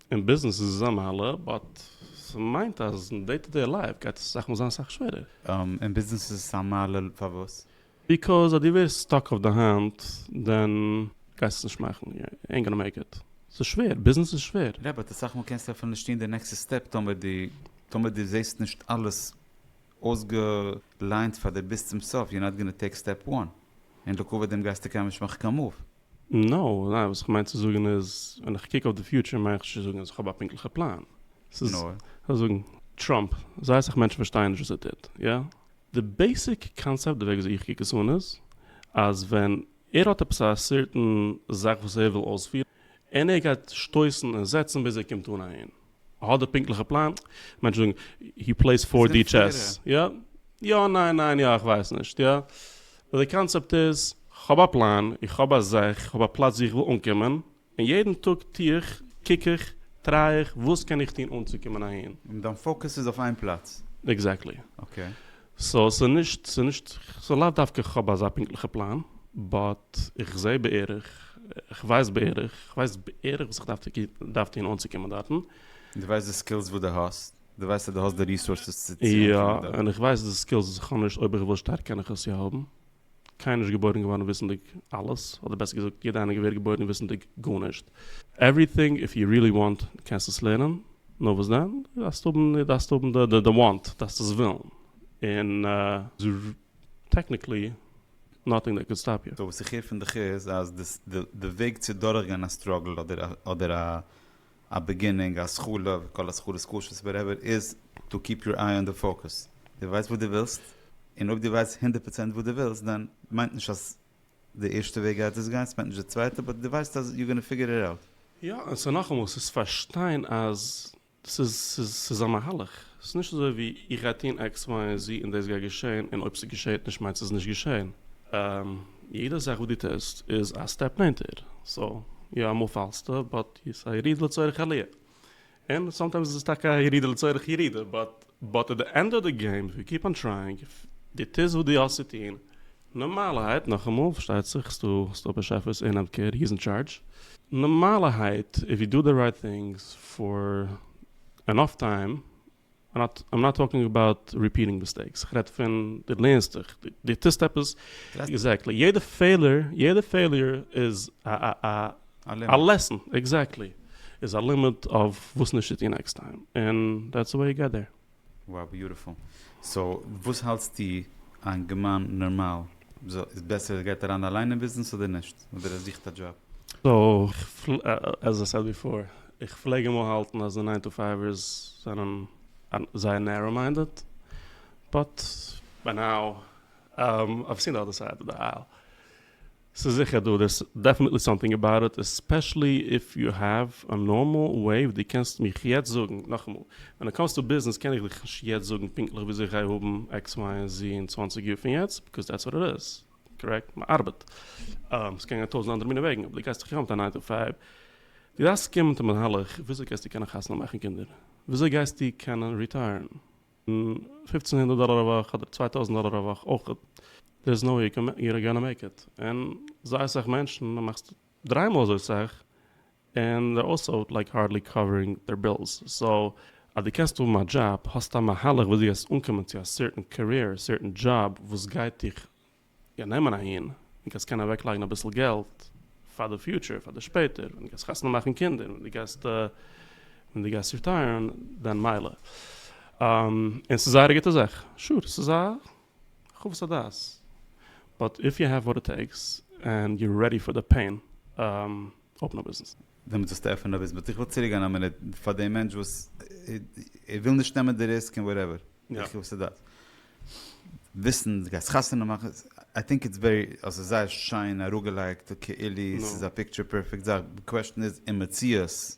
אין ביזנעס איז עס א מעלה, באט ס'מיינט אז אין דעי טו דעי לייף גייט עס אסאך מאל זיין אסאך שווערער. אין ביזנעס איז עס א מעלה פארוואס? ביקאוז אז דו ווערסט סטאק אויף די היינט, דען גייסט עס נישט מאכן, יו עינט גאנא מעיק איט. ס'איז שווער, ביזנעס איז שווער. יא, באט אסאך מאל קענסטו אפילו נישט טון די נעקסטע סטעפ טאמער דו, טאמער דו זעסט נישט אלעס אויסגעליינט פאר דו ביסט צום סוף, יור נאט גאנא טעיק סטעפ וואן, און לעיקוואוד דעם גייסטו קיינמאל נישט מאכן קיין מאוו. נאו, ניין, וואס כ'מיין צו זאגן איז, ווען איך קוק אויף די פיוטשער מיין איך נישט צו זאגן אז איך האב א פונקטליכע פלאן. ס'איז, נאר. כ'וועל זאגן, טראמפ, זייער אסאך מענטשן פארשטייען נישט וואס ער טוט, יא? די בעיסיק קאנצעפט, די וועג וויאזוי איך קוק עס אן איז, אז ווען ער האט עפעס א סערטען זאך וואס ער וויל אויספירן, און ער גייט שטויסן און זעצן ביז ער קומט אן אהין. האט די פונקטליכע פלאן, מענטשן זאגן הי פלעיס פאור די טשעס, יא יא ניין ניין יא איך ווייס נישט יא, באט די קאנצעפט איז כ'האב א פלאן, איך האב א זאך, איך האב א פלאץ ווי איך וויל אנקומען, און יעדן טאג טו איך, קוק איך, טריי איך, וואס קען איך טון אנצוקומען אהין. און דיין פאוקעס איז אויף איין פלאץ. עקזעקטלי. אקעי. סאו ס'איז נישט ס'איז נישט ס'איז לאו דווקא כ'האב אזא פונקטליכע פלאן באט איך זעה בערך כ'ווייס בערך כ'ווייס בערך וואס איך דארף דארף טון אנצוקומען דארטן. דו ווייסט די סקילס וואס דו האסט? דו ווייסט אז דו האסט די ריסארסעס צו צו אנקומען דארט? יא און איך ווייס די סקילס וואס איך האב נישט אויב איך וויל שטארק קען איך עס יא האבן. קיינער נישט געבוירן געווארן וויסנדיג אלעס, אדער בעסער געזאגט יעדע איינער געווער געבוירן וויסנדיג גארנישט. עווריטינג איף יו רילי וואנט קענסטו עס לערנען, נאר וואס דען? דו דארפסט האבן דו דארפסט האבן די די וואנט, דו דארפסט עס ווילן, און טעקניקלי נאטינג דעט קען סטאפ יו. סאו וואס איך הער פון דיך איז אז די די וועג צו דורכגיין א סטראגל אדער אדער א א בעגינינג, א סגולה, כל הסגולות קשות, וואטעווער, איז טו קיפ יור איי אן די פאוקעס. דו ווייסט וואס דו ווילסט, און אויב דו ווייסט הונדערט פראצענט וואס דו ווילסט, דאן מיינט נישט אז די ערשטע וועג גייט עס גיין, ס'מיינט נישט די צווייטע, באט דו ווייסט אז יור גאנא פיגור איט אוט. יא, און ס'איז נאכאמאל, ס'איז פארשטיין אז ס'איז, ס'איז, ס'איז א מהלך. ס'איז נישט אזוי ווי איך גיי טון עקס וויי און זי און דאס גייט געשען, און אויב ס'געשעט נישט מיינט ס'איז נישט געשען. יעדע זאך וואס דו טוסט איז א סטעפ נענטער. סאו, יא אמאל פאלסטו, באט איז א ירידה לצורך עליה, און סאמטיימס איז עס טאקע א ירידה לצורך ירידה, באט באט עט די ענד אוו די געים איף יו קיפ אן טרייאינג, איף די טוהסט וואס די האסט צו טוהן, נארמאלערהייט, נאכאמאל, פארשטייט זיך ס'איז דא ס'איז דא באשעפערס און אדקערע הי איז אין טשארדזש, נארמאלערהייט איף יו דא די רייט טינגס פאר ענאף טיים איים נאט טאלקינג אבאוט ריפיעטינג מיסטעיקס, איך רעד פון דו לערנסט דיך, דו טוסט עפעס, עקזעקטלי, יעדע פעלער, יעדע פעליר איז א לעסן, עקזעקטלי, איז א לימיט אויף וואס נישט צו טון נעקסט טיים, און דעטס וואו יו געט דעיר. Wow ביוטיפול. סאו וואס האלטסטו איין גמאן נארמאל איז בעסער ער גייט אריין אליין אין ביזנעס אדער נישט? אדער ער זוכט א דזשאב? סאו עז איי סעד ביפאר, איך פלעג אמאל האלטן אז די ניין טו פייווערס זענען זייער נערא מיינדעד, באט ביי נאו אייוו סין די אדער סייד אוו די אייל. ס'איז זיכער דא, דערס דעפענעטלי סאמטינג אבאוט איט, עספעשעלי איף יו העוו א נארמאל וועי וואס דו קענסט מיך יעצט זאגן, נאכאמאל, ווען איט קאמס טו ביזנעס קען איך דיך נישט יעצט זאגן פונקטליך וויאזוי איך גיי האבן עקס וויי און זי אין צוואנציג יאר פון יעצט, ביקאז דעטס וואט איט איז. קארעקט, מען ארבעט. עס קען גיין טויזענט אנדערע מיני וועגן, אבער דו גייסט דאך יא מיט א ניין טו פייוו. דו דארפסט קומען מיט א מהלך וויאזוי גייסטו קענען חתונה מאכן קינדער? וויאזוי גייסטו קענען ריטייערן? פופצן הונדערט דאלער א וואך אדער צוויי טויזענט דאלער א וואך אויך, דער איז נאו וועי יור גאנא מעיק איט. און זייער אסאך מענטשן, דו מאכסט. דריי מאל אזוי סאך, און זיי אויך סאו לייק הארדלי קאווערינג דער בילס, סאו אז דו קענסט האבן א דזשאב, האסטו א מהלך וויאזוי וועסט אנקומען צו א סערטען קעריער, סערטען דזשאב וואס גייט דיך יא נעמען אהין, און קענסט קענען אוועק לייגן אביסל געלט פאר די פיוטשער, פאר די שפעטער ווען דו גייסט חתונה מאכן קינדער, ווען דו גייסט ווען דו גייסט ריטייערן, דען מילא. און ס'איז זייער א גוטע זאך, שור, ס'איז א. חוות הדעת, באט איף יו העוו וואט איט טעיקס ענד יו רעדי פאר די פעין, אפן א ביזנעס. דעמאלט זאלסטו עפענען א ביזנעס, באט איך וויל צוריק גיין א מינוט פאר דעם מענטש וואס ער וויל נישט נעמען די ריסק און וואטעווער, די חוות הדעת, וויסן די גייסט חתונה מאכן, איי טינק איטס ווערי, אזוי זייער שיין אראפגעלייגט כאילו ס'איז א פיקטשער פערפעקט זאך, די קוועשטען איז אין מציאות.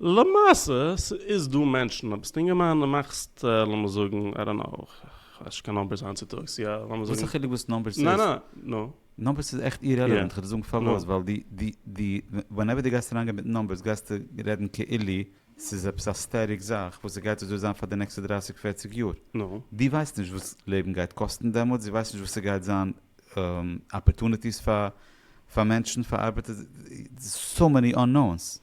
למעשה ס'איז דא מענטשן אויב ביסט אינגערמאן און מאכסט לאמיר זאגן איי דאנט נאו, כ'ווייס נישט קיין נומבערס היינט צוטאגס, יא לאמיר זאגן. וואס א חילוק וואס נומבערס איז? ניין ניין נו. נומבערס איז עכט אירעלעווענט, כ'וועל דיר זאגן פארוואס, ווייל די די די ווענעווער די גייסט אריינגיין מיט נומבערס גייסטו רעדן כאילו ס'איז עפעס א סטעטיק זאך וואס ס'גייט אזוי זיין פאר די נעקסטע דרייסיג פערציג יאר, די ווייסט נישט וואס לעבן גייט קאסטן דעמאלטס, די ווייסט נישט וואס ס'גייט זיין אפערטוניטיס פאר פאר מענטשן פאר ארבעטער, סאו מעני אננאונס.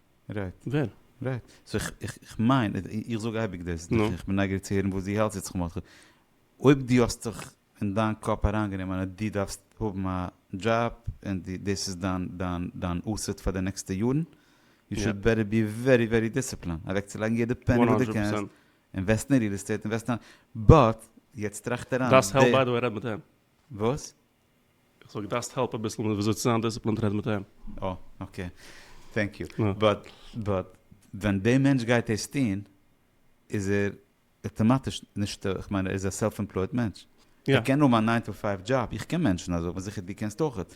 רעדט. ווער? רעדט. סאו איך מיין, איך זאג אייביג דאס, איך בין נייגעריג צו הערן וואס דו האלטסט יצחק מרדכי, אויב דו האסט זיך אין דיין קאפ אריינגענומען אז דו דארפסט האבן א דזשאב און דאס איז דיין אסעט פאר די נעקסטע יארן, יו שוד בעטער בי ווערי ווערי דיסציפלינד אוועקצולייגן יעדע פעני וואס דו קענסט, אינוועסטן אין ריעל עסטעיט, אינוועסטן אין, באט יעצט טראכט אריין, דארפסט העלפ ביי די וועי רעד מיט אים. וואס? איך זאג דאסט העלפ אביסל מיט וויאזוי צו זיין דיסציפלינט רעד מיט אים. אה אקעי טענק יו. באט באט ווען די מענטש גייט דאס טון איז ער אטאמאטיש נישט איך מיין ער איז א סעלף עמפלויד מענטש ער קען האבן א ניין טו פייוו דזשאב איך קען מענטשן אזוי אבער זיכער דו קענסט אויכעט.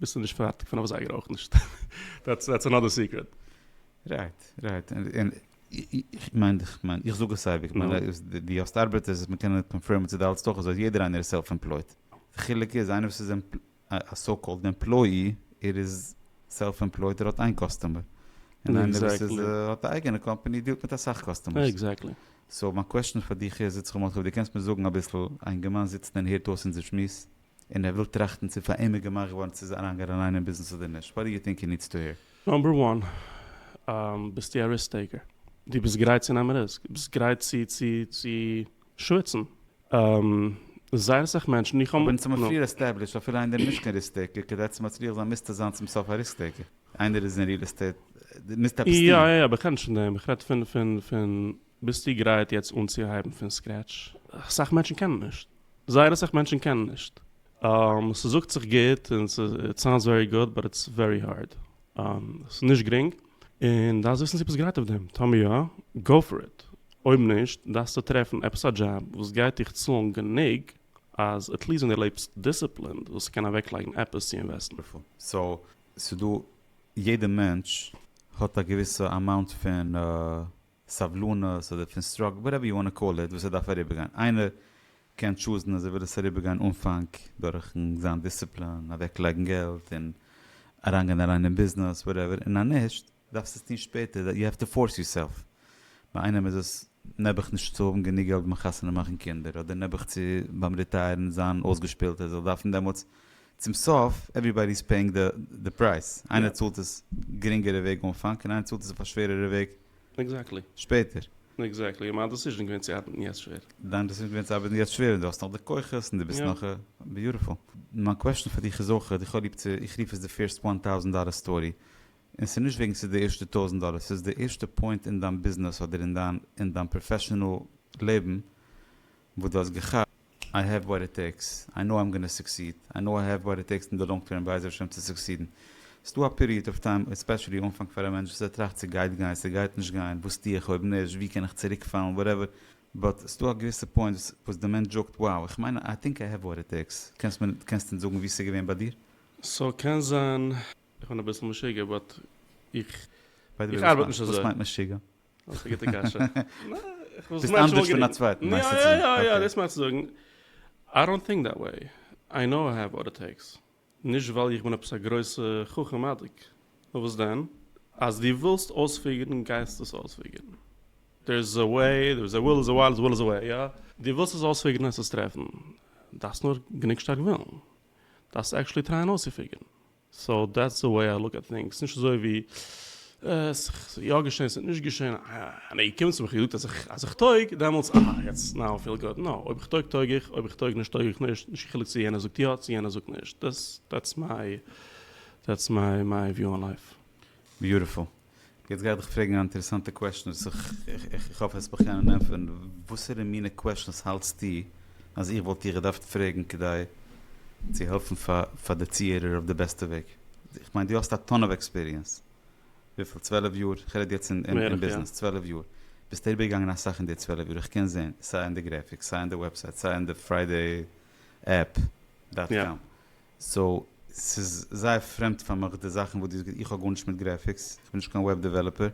ביסטו נישט פארטיג פון אויף זייגער אויך נישט. דעטס אנאדער סיקרעט. רייט, רייט. און איך מיין, איך מיין, איך זאג עס אייביג, איך מיין אז דו האסט ארבעטערס וואס מ'קען קאנפירמען צו די האלטסט אויך אזוי, יעדער איינער איז סעלף עמפלויט. די חילוק איז איינער וואס איז א סאו קאלד עמפלויי, ער איז סעלף עמפלויט, ער האט איין קאסטומער. און איינער וואס איז האט א אייגענע קאמפאני דיעלט מיט אסאך קאסטומערס. סאו מיין קוועשטען פאר דיך איז, יצחק מאטקוב, דו קענסט מיר זאגן אביסל, א אינגערמאן זיצט און הערט אויס אונזער שמועס, און ער וויל טראכטן צו פאר אים איז געמאכט געווארן צו אריינגיין אליין אין ביזנעס אדער נישט, וואט דו יו טינק הי נידס טו העיר? נאמבער וואן, ביסטו א ריסק טעיקער, דו ביסט גרייט צו נעמען ריסק, דו ביסט גרייט צו צו צו שוויצן, זייער אסאך מענטשן, איך האב. אבער אונז האמיר פריער עסטעבלישט אפילו איינער איז נישט קיין ריסק טעיקער כדי צו מצליח זיין מוזטו זיין צום סוף א ריסק טעיקער, איינער איז אין ריעל עסטעיט דו מוזט עפעס טון. יא יא יא, איך רעד נישט פון דעם, איך רעד פון פון פון. ביסטו גרייט יעצט אנצוהייבן פון סקרעטש? אסאך מענטשן קענען נישט. זייער אסאך מענטשן קענען נישט. ס'זאגט זיך גוט און ס'איט סאונדס ווערי גוד באט איטס ווערי הארד. ס'איז נישט גרינג. און דארפסט וויסן צו ביסט גרייט אויף דעם. טאמער יא, גאו פאר איט. אויב נישט, דארפסטו טרעפן עפעס א דזשאב וואס גייט דיך צאלן גענוג אז עטליעסט ווען דו לעבסט דיסציפלינד זאלסטו קענען אוועקלייגן עפעס צו אינוועסטן. סאו ס'דא יעדע מענטש האט א געוויסע אמאונט פון סבלנות אדער פון סטראגל וואטעווער יו וואנט טו קאל איט וואס ער דארף אריבערגיין איינער קען טשוזן אז ער וויל עס אריבערגיין אנפאנג דורכן זיין דיסציפלין אוועקלייגן געלט און אריינגיין אליין אין ביזנעס וואטעווער און אז נישט דארפסט עס טון שפעטער יו העוו טו פארס יור סעלף ביי איינעם איז עס נעבעך נישט צו האבן גענוג געלט ביים חתונה מאכן קינדער אדער נעבעך צו ביים ריטייערן זיין אויסגעשפילט ער זאל דארפן דעמאלטס צום סוף עווריבאדי איז פעיאינג די פרייז, איינער צאלט עס גרינגערע וועג אנפאנג און איינער צאלט עס אויף א שווערערע וועג שפעטער. עקזעקטלי, און מיין דעסיזשען איז געווען צו ארבעטן יעצט שווער. דיין דעסיזשען איז געווען צו ארבעטן יעצט שווער און דו האסט נאך די כוחות און דו ביסט נאך ביוטיפול. מיין קוועשטען פאר דיך איז אויך איך האב ליב צו איך רוף עס די פירסט וואן טאוזענט דאלער סטארי און ס'איז נישט וועגן ס'איז די ערשטע טויזענט דאלער ס'איז די ערשטע פוינט אין דיין ביזנעס אדער אין דיין אין דיין פראפעשענעל לעבן וואס דו האסט געכאפט איי העוו וואט איט טעיקס, איי נאו איים גאנא סוקסיד, איי נאו איי העוו וואט איט טעיקס אין די לאנג טערם בעזר השם צו סוקסידן. ס'דא א פיריעד אוו טיים, עספעשעלי אנפאנג פאר א מענטש וואס ער טראכט ס'גייט גיין, ס'גייט נישט גיין, וואס טו איך אויב נישט, ווי קען איך צוריק פאלן, וואטעווער, באט ס'דא א געוויסע פוינט וואס די מענטש זאגט wow איך מיין איי טינק איי העוו וואט איט טעיקס, קענסט מיר קענסט אונז זאגן ווי ס'געווען ביי דיר? סאו קען זיין איך בין אביסל משוגע באט איך איך ארבעט נישט אזוי. וואס מיינט משוגע? אויך א גוטע קשיא. ביסט אנדערש פון א צווייטן מיינסטו צו זאגן? יא יא יא, דאס מיין צו זאגן. איי דאנט טינק דעט וועי, איי קנאו איי העוו וואט איט טעיקס. נישט ווייל איך בין עפעס א גרויסע חכם אדג, נאר וואס דען? אז דו ווילסט אויספיגערן גייסטו עס אויספיגערן. דער איז א וועי, דער איז א וויל, איז א ווייל, איז א וויל, איז א וועי, יא? דו ווילסט עס אויספיגערן העסטו עס טרעפן. דארפסט נאר גענוג שטארק ווילן. דארפסט עקשעלי טרייען אויסצופיגערן. סאו דעטס די וועי איי לוק עט טינגס, נישט אזוי ווי עס איז יא געשען עס איז נישט געשען, אה נעע קומט צו מיך איר זאגט אז אז איך טויג דעמאלטס אה יעצט נאו איי פיל גוד, נאו אויב איך טויג טויג איך אויב איך טויג נישט טויג איך נישט, נישט קיין חילוק צו יענער זאגט יא צו יענער זאגט נישט, דעטס דעטס מיי דעטס מיי מיי וויו אן לייף. ביוטיפול. יעצט גיי איך דיך פרעגן א אינטערעסאנטע קוועשטן וואס איך איך האף עס בכן און ענטפערן, וואסערע מינע קוועשטנס האלטסטו אז איך וואלט דיך געדארפט פרעגן כדי צו העלפן פאר די צוהערער אויף די בעסטע וועג? איך מיין דו האסט א טאן אוו עקספיריענס, וויפיל? צוועלף יאר? כ'רעד יעצט אין ביזנעס, צוועלף יאר, ביסט איבערגעגאנגען אסאך אין די צוועלף יאר, איך קען זעהן סיי אין די גרעפיקס, סיי אין די וועבסייט, סיי אין די פריידעי עפפ דאט קאם, סאו ס'איז זייער פרעמד פאר מיך די זאכן וואס דו האסט געזאגט, איך האב גארנישט מיט גרעפיקס, איך בין נישט קיין וועב דעוועלאפער,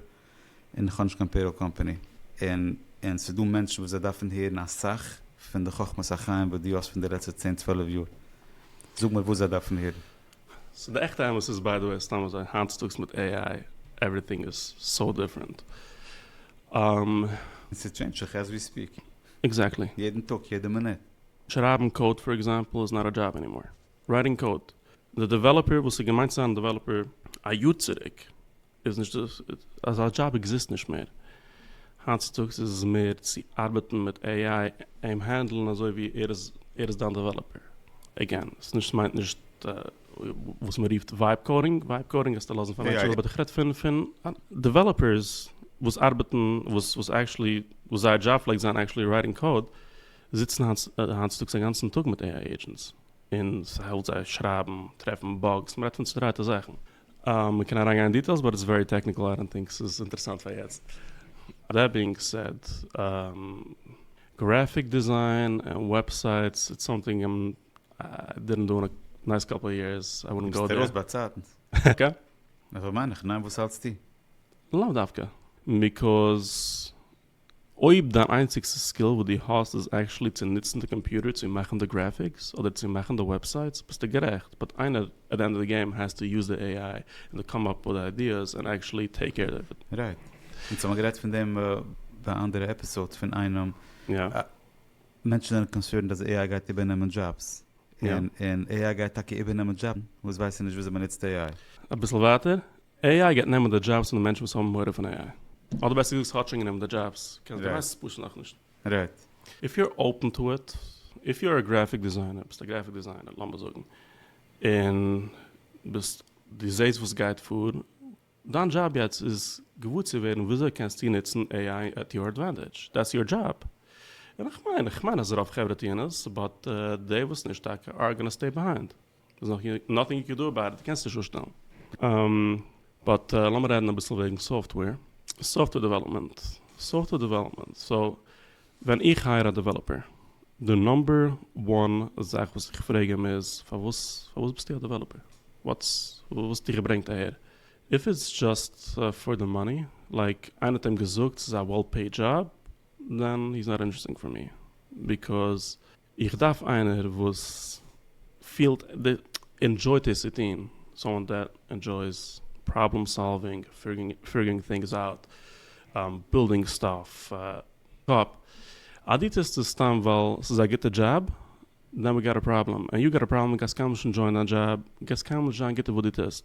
און איך האב נישט קיין פעיראל קאמפאני, און און ס'איז דא מענטשן וואס זיי דארפן הערן אסאך פון די חכמת החיים וואס דו האסט פון די לעצטע צען צוועלף יאר, זאג מיר וואס זיי דארפן הערן. סאו די עכטע אמת איז ביי די וועי סתם אזוי היינט צוטאגס מיט עי איי עווריטינג איז סאו דיפרענט. ס'טשעינדזשט זיך עז ווי ספיעק. עקזעקטלי. יעדן טאג, יעדע מינוט. שרייבן קאוד פאר עקזעמפל איז נאט א דזשאב ענימאר. רייטינג קאוד. די דעוועלאפער וואס איז געמיינט צו זיין א דעוועלאפער א יאר צוריק איז נישט אזא דזשאב עקזיסט נישט מער. היינט צוטאגס איז עס מער צו ארבעטן מיט עי איי אים הענדלן אזוי ווי ער איז ער איז דיין דעוועלאפער. עגעין עס נישט מיינט נישט וואס מען רופט ווייב קאודינג. ווייב קאודינג גייסטו לאזן פאר מענטשן אבער איך רעד פון פון דעוועלאפערס וואס ארבעטן וואס וואס עקטשעלי וואס זייער דזשאב פלעגט זיין עקטשעלי רייטינג קאוד. זיצן היינט צוטאגס א גאנצן טאג מיט AI עידזשענטס, און ס'העלפט זיי שרייבן, טרעפן באגס, מ'רעדט פון צודרייטע זאכן. מ'קען אריינגיין אין דיטעילס באט איטס ווערי טעקניקל איי דאנט טינק ס'איז אינטערעסאנט פאר יעצט. דעט בינג סעד, גרעפיק דיזיין און וועבסייטס איטס סאמטינג איים דידענט דא אין נייס קאפל יערס, איי וואלדנט גאו דער. ביסט ארויס ביי צייטנס. קע. אזוי מיין איך, ניין? וואס האלטסטו? לאו דווקא. ביקאז. אויב דיין איינציגסטע סקיל וואס דו האסט איז עקטשעלי צו נוצן די קאמפיוטער צו מאכן די גרעפיקס אדער צו מאכן די וועבסייטס ביסטו גערעכט באט איינער עט די ענד אוו די געים העז טו יוז די עי איי און די קאם אפ וויט די איידיעס און עקטשעלי טעיק קעיר אוו איט. רייט. אונז האמיר גערעדט פון דעם ביי א אנדערע עפיסאד פון איינעם יא. מענטשן זענען קאנסערנד אז עי איי גייט איבערנעמען דזשאבס. יא. און עי איי גייט טאקע איבערנעמען דזשאבן וואס ווייסן נישט וויאזוי מ'נוצט עי איי. אביסל ווייטער AI גייט נעמען די דזשאבס פון די מענטשן וואס האבן מורא פון AI? אדער בעסער געזאגט ס'האט שוין גענומען די דזשאבס, קענסט דו ווייסט עס פשוט נאכנישט. רעדט. איף יו אר אפען טו איט, איף יו אר א גרעפיק דעזיינער, ביסט א גרעפיק דעזיינער לאמיר זאגן, און ביסט דו זעסט וואס גייט פאר, דיין דזשאב יעצט איז געוואר צו ווערן וויאזוי קענסטו נוצן AI עט יור עדווענטעדזש, דעטס יור דזשאב, און איך מיין, איך מיין אז רוב חברה טוען עס, באט די וואס נישט טאקע אר גאנא סטעי ביהיינד. איז נאך נאטינג יו קען דא אבאוט איט, קענסט נישט אנשטעלן. באט לאמיר רעדן אביסל וועגן סאפטוועיר, סאפטוועיר דעוועלאפמענט, סאפטוועיר דעוועלאפמענט, סאו ווען איך הייער א דעוועלאפער, די נאמבער וואן זאך וואס איך פרעג אים איז, פארוואס פארוואס ביסטו א דעוועלאפער? וואטס וואס האט דיך געברענגט אהער? איף איטס דזשאסט פאר די מאני, לייק איינער האט אים געזאגט ס'איז א וועל פעיד דזשאב, דען הי איז נאט אינטערעסטינג פאר מי, ביקאז איך דארף איינער וואס פילט די ענדזשויט עס צו טון, סאמאן דעט ענדזשויס פראבלעם סאלווינג, פיגורינג טינגס אוט, בילדינג סטאף אפ, אז דו טוסט עס סתם ווייל ס'איז א גוטע דזשאב, דען ווי גאט א פראבלעם, ענד יו גאט א פראבלעם, גייסט קיינמאל נישט ענדזשויען דיין דזשאב, גייסט קיינמאל נישט זיין גוט אין וואס דו טוסט,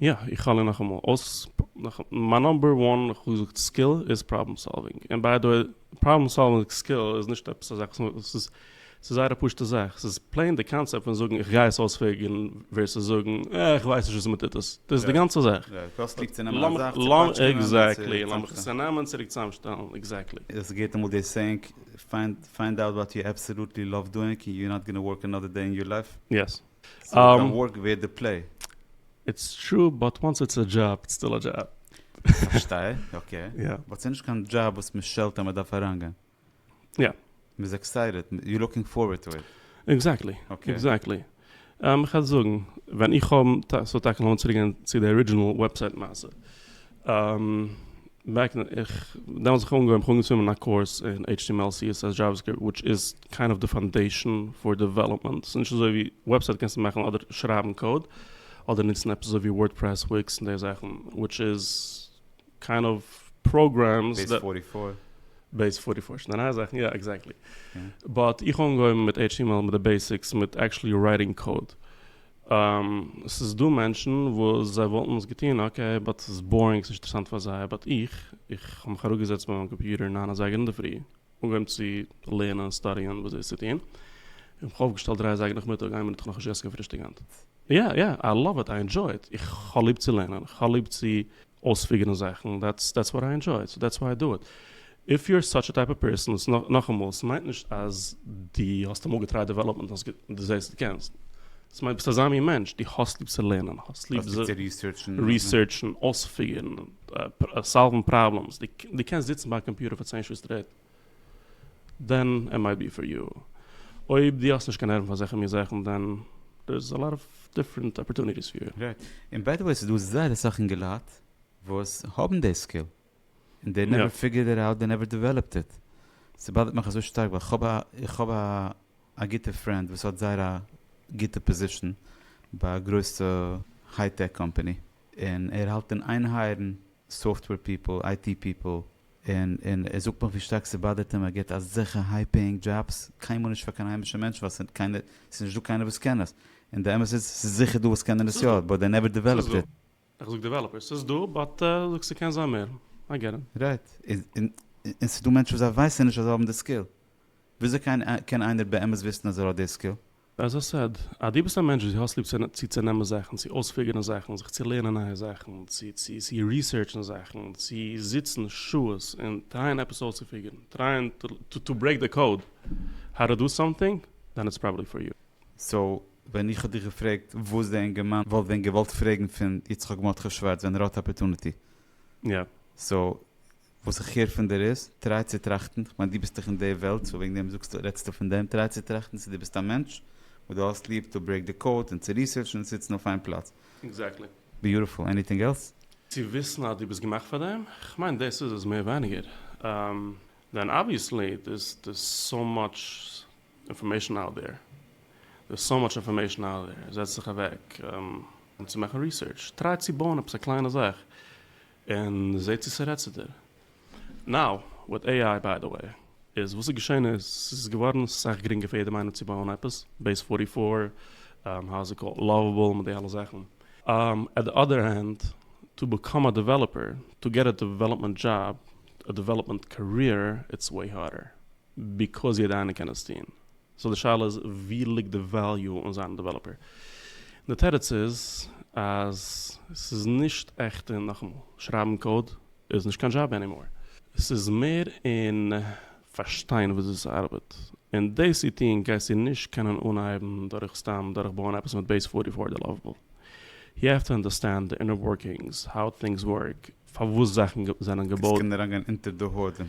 יא, איך האלער נאכאמאל אויס, מיין נאמבער וואן חוזק סקיל איז פראבלעם סאלווינג, און ביי די וועי פראבלעם סאלווינג סקיל איז נישט עפעס א זאך וואס ס'איז ס'איז זייער א פשוטע זאך, ס'איז פלעין די קאנצעפט פון זאגן איך גיי עס אויספיגערן ווערסעס זאגן אה איך ווייס נישט וויאזוי מען טוט עס, דאס איז די גאנצע זאך. יא, די קאסט ליגט צו נעמען א זאך, צו פאטשקענען, צו צוזאמשטעלן. עקזעקטלי, לאמיך עס צונעמען, צוריק צוזאמשטעלן, עקזעקטלי. עס געט אמאל די סעינג, פיינד אוט וואט יו עבסעלוטלי לאוו דואינג און יו נאט גאנא ווארק אנאדער דעי אין יור לייף. יעס. סאיז קיין ווארק ווערד די פלעי. איטס טרו באט וואנס איטס א דזשאב איטס סטיל א דזשאב. פארשטיי אקעי. יא. באט סאיז נישט קיין דזשאב וואס משעלט אז מדארף אריינגיין. יא. מאיז עקסייטעד יו לוקינג פארווערד טו איט. עקזעקטלי עקזעקטלי. איך האב זאגן ווען איך האב סאיז טאקע לאמיר צוריק גיין צו די ארידזשענעל וועבסייט מעשה. און בעק אין איך דעמאלטס זיך אנגעהויבן איך האב אנגעצוימען מיין קאורס אין html css javascript וויטש איז קיינד אוו די פאנדעישן פאר דעוועלאפמענט ס'איז נישט אזוי ווי וועבסייט קענסטו מאכן אדער שרייבן קאוד אדער נוצן עפעס אזוי ווי ווארדפרעס וויקס און די זאכן וויטש איז קיינד אוו פראגרעמס בעיס פארטי פאר. בעיס פארטי פאר שוין די נייע זאכן יא עקזעקטלי באט איך האב אנגעהויבן מיט html מיט די בעיסיקס מיט עקטשעלי רייטינג קאוד עס איז דא מענטשן וואס זיי וואלטן עס געטון אקעי באט עס איז בארינג עס איז נישט אינטערעסאנט פאר זיי באט איך איך האב מיך אראפגעזעצט ביי מיין קאמפיוטער ניין אזייגער אינדערפרי אנגעהויבן צו לערנען און סטאדיען וואס איז צו טון און מיך אויפגעשטעלט דרײַ אזייגער נאכמיטאג איין מינוט איך האב נאכנישט געגעסן קיין פרישטאג היינט יא יא איי לאוו איט איי ענדזשוי איט איך האב ליב צו לערנען איך האב ליב צו אויספיגערן זאכן, דעטס דעטס וואט איי ענדזשוי, סאו דעטס וויי איי דא איט. איף יו אר סאטש א טייפ אוו פערסאן, נאכאמאל, ס'מיינט נישט אז דו האסט אמאל געטרייט דעוועלאפמענט און האסט דו זעסט דו קענסט, ס'מיינט ביסט אזא מין מענטש, דו האסט ליב צו לערנען, האסט ליב צו ריסערטשן, אויספיגערן, סאלוון פראבלעמס, דו קענסט זיצן ביי א קאמפיוטער פאר צען שעה סטרעיט. דען עם איי בי פאר יו. אויב דו האסט נישט קיין נערוון פאר אזעלכע מין זאכן דען דער איז א לאט אוו דיפרענט אפערטוניטיס פאר יו. רייט. און ביי די וועי ס'דא זייער אסאך אינגעלייט וואס האבן די סקיל און דעי נעווער פיגערד איט אוט דעי נעווער דעוועלאפד איט. ס'באדערט מיך אזוי שטארק ווייל כ'האב א איך האב א גוטע פרענד וואס האט זייער א גוטע פאזישן ביי א גרויסע היי טעק קאמפעני און ער האלט אין איין הייערן סאפטוועיר פיפל, איי טי פיפל, און און ער זאגט נאך ווי שטארק ס'באדערט אים ער געט אזעלכע היי פעיאינג דזשאבס, קיינמאל נישט פאר קיין היימישע מענטשן ווייל ס'איז קיינער, ס'איז נישטא קיינער וואס קען עס, און די אמת איז ס'איז זיכער דא וואס קענען עס יא, ס'איז דא. באט דעי נעווער דעוועלאפד איט. איך זאג דעוועלאפערס, ס'איז דא, באט זאגסט ס'קען זיין מער, איי געט איט. רייט, און און ס'איז דא מענטשן וואס זיי ווייסן נישט אז זיי האבן די סקיל, וויאזוי קען איינער באמת וויסן אז ער האט די סקיל? עז איי סעד, אז דו ביסט א מענטש וואס דו האסט ליב צו צונעמען זאכן, צו אויספיגערן זאכן, זיך צו לערנען נייע זאכן, צו ריסערטשן זאכן, צו זיצן שעות און טרייען עפעס אויסצופיגערן, טרייען טו ברעיק די קאוד האו טו דא סאמטינג, דען איטס פראבעבלי פאר יו. סאו ווען איך האב דיך געפרעגט וואס די אינגערמאן וואלט ווען געוואלט פרעגן פון יצחק מרדכי שווארץ ווען ער האט אפערטוניטי. יא. סאו וואס איך הער פון דיר איז, טריי צו טראכטן, כ'מיין דו ביסט דאך אין די וועלט סאו וועגן דעם זאגסטו רעדסטו פון דעם, טריי צו טראכטן צו דו ביסט א מענטש וואס דו האסט ליב טו ברעיק די קאוד און צו ריסערטשן און זיצן אויף איין פלאץ. עקזעקטלי. ביוטיפול, עניטינג עלס? צו וויסן אז דו ביסט געמאכט פאר דעם, כ'מיין דאס איז עס מער ווייניגער. דען אבוויעסלי דערס דערס סאו מאטש אינפארמעישן אוט דער, דערס סאו מאטש אינפארמעישן אוט דער, זעץ דיך אוועק צו מאכן ריסערטש, טריי צו בויען עפעס א קליינע זאך, און זעה צו ס'רעדט צו דיר. נאו, וויט עי איי ביי די וועי, איז וואס איז געשען איז, ס'איז געווארן סאך גרינגער פאר יעדעם איינעם צו בויען עפעס, בעיס פארטי פאר, האו איז איט קאלד, לאוועבל, מיט די אלע זאכן. עט די אדער הענד, טו בעקאם א דעוועלאפער, טו געט א דעוועלאפמענט דזשאב, א דעוועלאפמענט קאריער, איטס וועי הארדער. ביקאוז יעדע איינער קען עס טון. סאו די שאלה איז ווי ליגט די וועליו און זיין א דעוועלאפער? די תירוץ איז אז ס'איז נישט עכט און נאכאמאל, שרייבן קאוד איז נישט קיין דזשאב ענימאר, ס'איז מער אין פארשטיין וויאזוי ס'ארבעט, און דאס צו טון גייסטו נישט קענען אנהייבן דורך סתם דורכבויען עפעס מיט בעיס פארטי פאר די לאוו-באל, יו העוו טו אנדערסטענד די אינער ווארקינגס, האו טינגס ווארק, פארוואס זאכן זענען געבויט. עס קען אריינגיין אונטער די הוד און.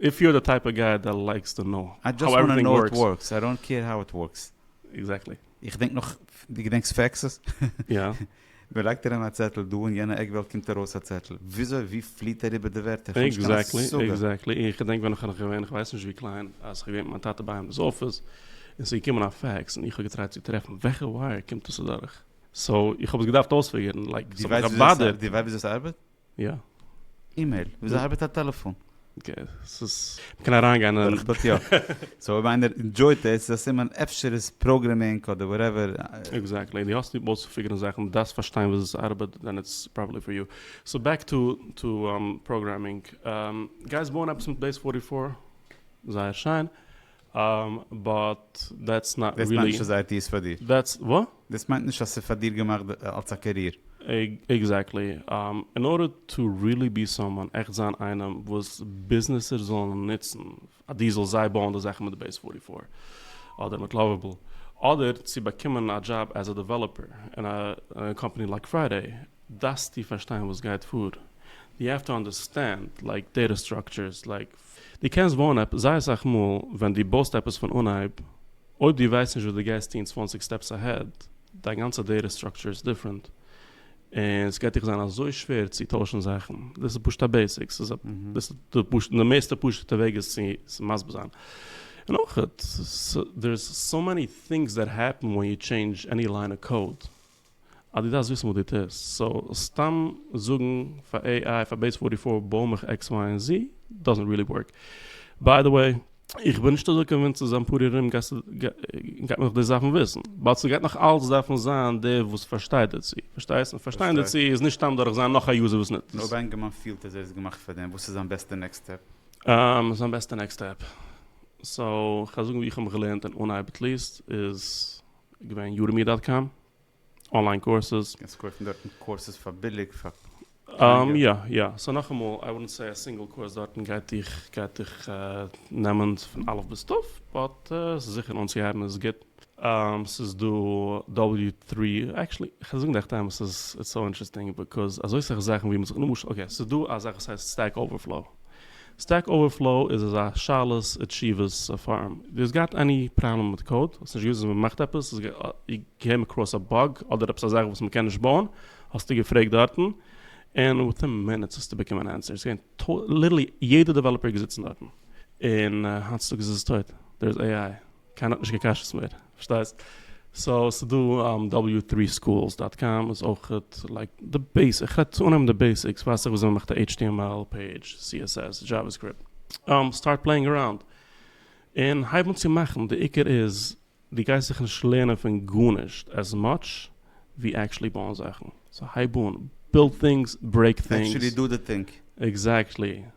איף יו אר די טייפ אוו גיי דער לייקס טו נאו האו עווריטינג ווארקס. איי דאנט קעיר האו איט ווארקס. עקזעקטלי. איך דענק נאך, דו געדענקסט פעקסעס? יא. מען לייגט אריין א צעטל דא און יענע עק וועלט קומט ארויס א צעטל. וויאזוי ווי פליט אריבער די ווערטער? איך האב נישט קיין השגה. עקזעקטלי, עקזעקטלי. און איך געדענק ווען איך נאך געווען, איך ווייס נישט ווי קליין, אז איך האב געווען מיט מיין טאטע ביי אים דאס אפיס, און ס'איז געקומען א פעקס, און איך האב געטרייט צו טרעפן וועלכע ווייער קומט עס אדורך. סאו איך האב עס געדארפט אויספיגערן, לייק ס'האט מיך געבאדערט. דו ווייסט ווי אזוי ס'ארבעט? יא. אימעיל, וויאזוי ארבעט א טעלעפאן? ס'איז, מ'קען אריינגיין אין. דורך דאס יא. סאו אויב איינער ענדזשויט עס איז א סימן אפשר איז פראגרעמינג אדער וואטעווער. עקזעקטלי, די האסט ליב אויסצופיגערן זאכן, די דארפסט פארשטיין וויאזוי עס ארבעט, דען איטס פראבעבלי פאר יו. סאו בעק טו טו פראגרעמינג. גייסט בויען עפעס מיט בעיס פארטי פאר? זייער שיין. אהמ באט דעטס נאט רילי. דעס מיינט נישט אז אייטי איז פאר דיר. דעטס ווא? דעס מיינט נישט אז ס'איז פאר דיר געמאכט אלס א קעריער. עקזעקטלי. אין ארדער טו רילי בי סאמאן, עכט זיין איינעם וואס ביזנעסער זאלן נוצן, אז דו זאלסט זיי בויען די זאכן מיט בעיס פֿאָרטי פֿאָר אדער מיט לאוועבעל, אדער צו באקומען א דזשאב עז א דעוועלאפער אין א קאמפאני לייק פריידעי, דארפסטו פארשטיין וואס גייט פאר. יו העוו טו אנדערסטענד לייק דעטע סטראקטשערס לייק דו קענסט בויען עפעס, זייער אסאך מאל ווען דו בויסט עפעס פון אנהייב, אויב דו ווייסט נישט וואס דו גייסט טון צוואַנציק סטעפס אהעד, דיין גאנצע דעטע סטראקטשער איז דיפרענט, און ס'גייט דיך זיין אזוי שווער צו טוישן זאכן, דאס איז פשוט א בעיסיק, ס'איז א, דאס איז די פשוט, די מערסטע פשוט'ע וועג עס צו מסביר זיין. און אויך, דער איז סאו מעני טינגס דעט העפן ווען יו טשעינדזש עני ליין אוו קאוד. אז דו דארפסט וויסן וואס דו טוסט, סאו סתם זאגן פאר עי איי פאר בעיס פארטי פאר בוי מיך עקס וויי און זי דאזענט ריעלי ווארק. ביי די וועי. איך בין נישט אזוי קאנווינסט צו זיין פאר ארום גייט מען נאך דאס דארפן וויסן, באט ס'גייט נאך אלץ דארפן זיין דער וואס פארשטייט דערצו, פארשטייסט? און פארשטיין דערצו איז נישט סתם דורך זיין נאך א יוזער וואס נוצט עס. אויב ענגערמאן פילט אז ער איז געמאכט פאר דעם, וואס איז זיין בעסטע נעקסט סטעפ? זיין בעסטע נעקסט סטעפ? סאו כ'וועל זאגן ווי איך האב מיך געלערנט אין אנהייב עטליעסט איז. געווען יורמי דאט קאם, אנליין קורסעס. קענסט קויפן דארטן קורסעס פאר ביליג, פאר קלייגעלט. יא יא, סאו נאכאמאל, איי וואלדנט סעי א סינגל קורס דארטן גייט דיך גייט דיך נעמען פון אלף ביז תיו, באט ס'איז זיכער אנצוהייבן איז גוט. ס'איז דא דאבעליו טרי, עקטשעלי כ'על זאגן דיך די אמת, ס'איז סאו אינטערעסטינג, ביזקאוז אזוי סאך זאכן ווי מ'זאגט למשל, אקעי, ס'איז דא א זאך וואס הייסט סטעק אווערפלאו. סטעק אווערפלאו איז אזא שאלות ותשובות פארום, דו האסט געהאט עני פראבלעם מיט קאוד? האסט נישט געוואוסט ווי מ'מאכט עפעס? האסט געקעם אקראס א באג אדער עפעס א זאך וואס מ'קען נישט בויען? האסטו געפרעגט דארטן? און וויטין מינוטס האסטו באקומען ענסער, ס'איז געווען ליטערלי יעדע דעוועלאפער געזיצן דארטן, און היינט צוטאגס איז עס טויט, דער איז עי איי. קיינער האט נישט קיין קשיות מער, פארשטייסט? סאו ס'איז דא דאבעליו טרי סקולס דאט קאם איז אויך לייק די בעיס, איך רעדט צו אנהייבן די בעיסיקס, ווייסט זיך וויאזוי מ'מאכט א html פעידזש, css, javascript, סטארט פלעינג אראונד און הייב אן צו מאכן, די עיקר איז דו גייסט זיך נישט לערנען פון גארנישט עז מאטש ווי עקשעלי בויען זאכן, סאו הייב אן, בילד טינגס, ברעיק טינגס. עקשעלי דו די טינג. עקזעקטלי.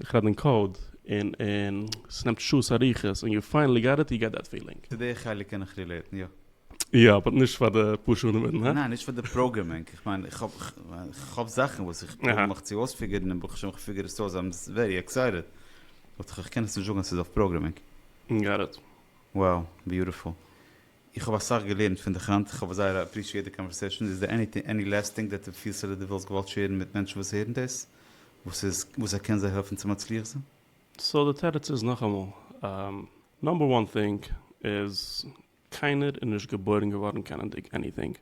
איך רעד אין קאוד, און און ס'נעמט שעות אריכות, און יו פיינעלי גאט איט, יו געט דעט פילינג. צו די חלק קען איך רילעיטן, יא. יא, באט נישט פאר די פאר שעה אינמיטן, הא? ניין, נישט פאר די פראגרעמינג, איך מיין, איך האב, איך האב זאכן וואס איך פרוביר מיך צו אויספיגערן, און ברוך השם איך פיגער עס אויס, איים ווערי עקסייטעד, באט איך קען עס נישט זאגן אז ס'איז אויף פראגרעמינג. גאט איט. Wow, ביוטיפול. איך האב אסאך געלערנט פון דיך היינט, איך האב זייער אפרישיעט די קאנווערסעשאן, איז דא עניטינג עני לעסט טינג דעט די פילסט אדער די וואלסט געוואלט שערן מיט מענטשן וואס הערן דאס, וואס איז וואס ער קען זיי העלפן צו מצליח זיין? סאו די תירוץ איז נאכאמאל, נאמבער וואן טינג איז קיינער איז נישט געבוירן געווארן קענענדיג עניטינג,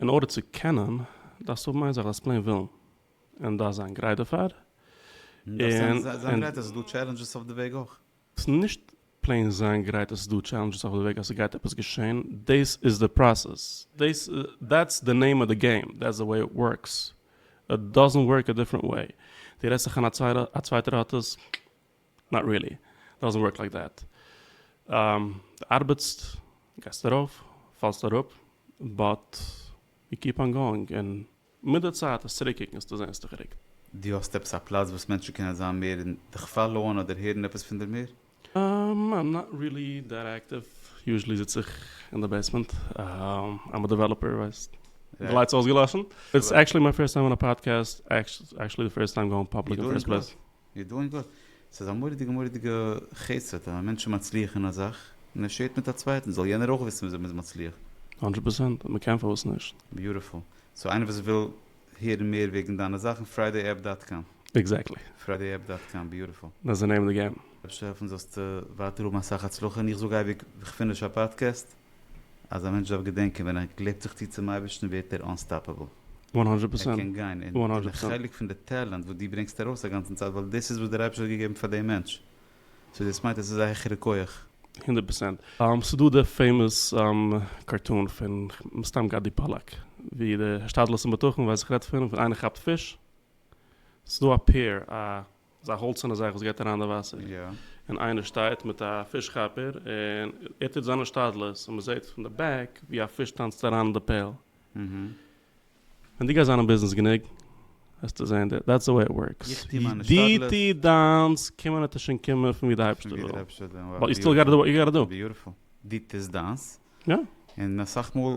אין ארדער צו קענען דארפסטו האבן איין זאך דארפסט פלעין ווילן און דארפסט זיין גרייט דערפאר, און דארפסט זיין גרייט אז ס'איז דא טשעלענדזשעס אויף די וועג אויך. ס'איז נישט פלעין זיין גרייט אז ס'איז דא טשעלענדזשעס אויף די וועג אז ס'גייט עפעס געשען, דעיס איז די פראסעס, דעיס דעטס די נעים אוו די געים, דעטס די וועי איט ווארקס, איט דאזענט ווארק א דיפרענט וועי, דו רעדסט זיך איין א צווייטער האט עס, נאט ריעלי, דאזענט ווארק לייק דעט, דו ארבעטסט, גייסט ארויף, פאלסט אראפ, באט יו קיפ אן גאואינג און מיט די צייט עס צוריק קוקן צו זען ס'דאך גערוקט. דו האסט עפעס א פלאץ וואס מענטשן קענען זיין מער און דיך פאללאוען אדער הערן עפעס פון דיר מער? איים נאט ריעלי דעט עקטיוו, יוזשעלי זיץ איך אין די בעיסמענט, איים א דעוועלאפער ווייסט, די לייטס אויסגעלאשן, איטס עקטשעלי מיי פירסט טיים אן א פאדקעסט, עקטשעלי די פירסט טיים גאון פאבליק אין פירסט פלעיס. מיר דן גוט, ס'איז א מורא'דיגע מורא'דיגע חסד ווען א מענטש איז מצליח אין א זאך און ער שעירט מיט א צווייטן, זאל יענער אויך וויסן וויאזוי מ'איז מצליח. הונדרעט פראצענט, אויב מ'קען פארוואס נישט? ביוטיפול. סאו איינער וואס וויל הערן מער וועגן דיינע זאכן, פריידעיעפפ דאט קאם. עקזעקטלי. פריידעיעפפ דאט קאם, ביוטיפול. דעטס די נעים אוו די געים. השי ת העלפן זאלסטו ווייטער האבן אסאך הצלחה און איך זאג אייביג כ'פינש א פאדקעסט. אז א מענטש דארף געדענקען ווען ער קלעבט זיך צו צום אייבערשטן ווערט ער אנסטאפעבל. וואן הונדרעט ער פערסענט. קען גיין. און וואן הונדרעט די פערסענט. חלק פון די טעלענט וואס דו ברענגסט ארויס א גאנצן צייט ווייל דאס איז וואס דער אייבערשטער האט געגעבן פאר דעם מענטש. סאו דאס מיינט אז עס איז א העכערע כח. הונדרעט פערסענט. ס'איז דא די פעימאס קארטון פון מסתם גדי פאללאק ווי די השתדלות און בטחון ווייס איך רעדט פון ווען איינער כאפט פיש ס'איז דא א פעיר א אזא האלצערנע זאך וואס געט אריין די וואסער, און איינער שטייט מיט א פיש כאפער און ער טוט זיינע שתדלות און מ'זעט פון די בעק ווי א פיש טאנצט אריין אין די פעל. ווען דו גייסט זיין אין ביזנעס גענוג וועסטו זען דעט דעטס די וועי איט ווארקס. דו טו דיינס קומען וועט עס שוין קומען פון ווי די אייבערשטער וויל. באט יו סטיל גאטטע דו וואט יו גאטטע דו. ביוטיפול. דו טוסט דיינס און אסאך מאל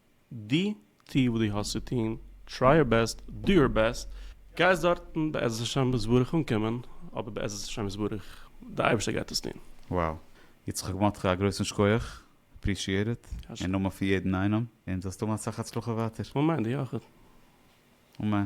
די טו וואס די האסט צו טון, טריי יור בעסט, דא יור בעסט, גייסט דארטן בעזרת השם יתברך אנקומען, אבער בעזרת השם יתברך, די אייבערשטער גייט עס טון. Wow. יצחק מאטקע א גרויסן שקויעך, עפרישיעט איט, אין נאמען פון יעדן איינעם, און זאלסט האבן אסאך הצלחה ווייטער. אמן, דו אויך. אמן.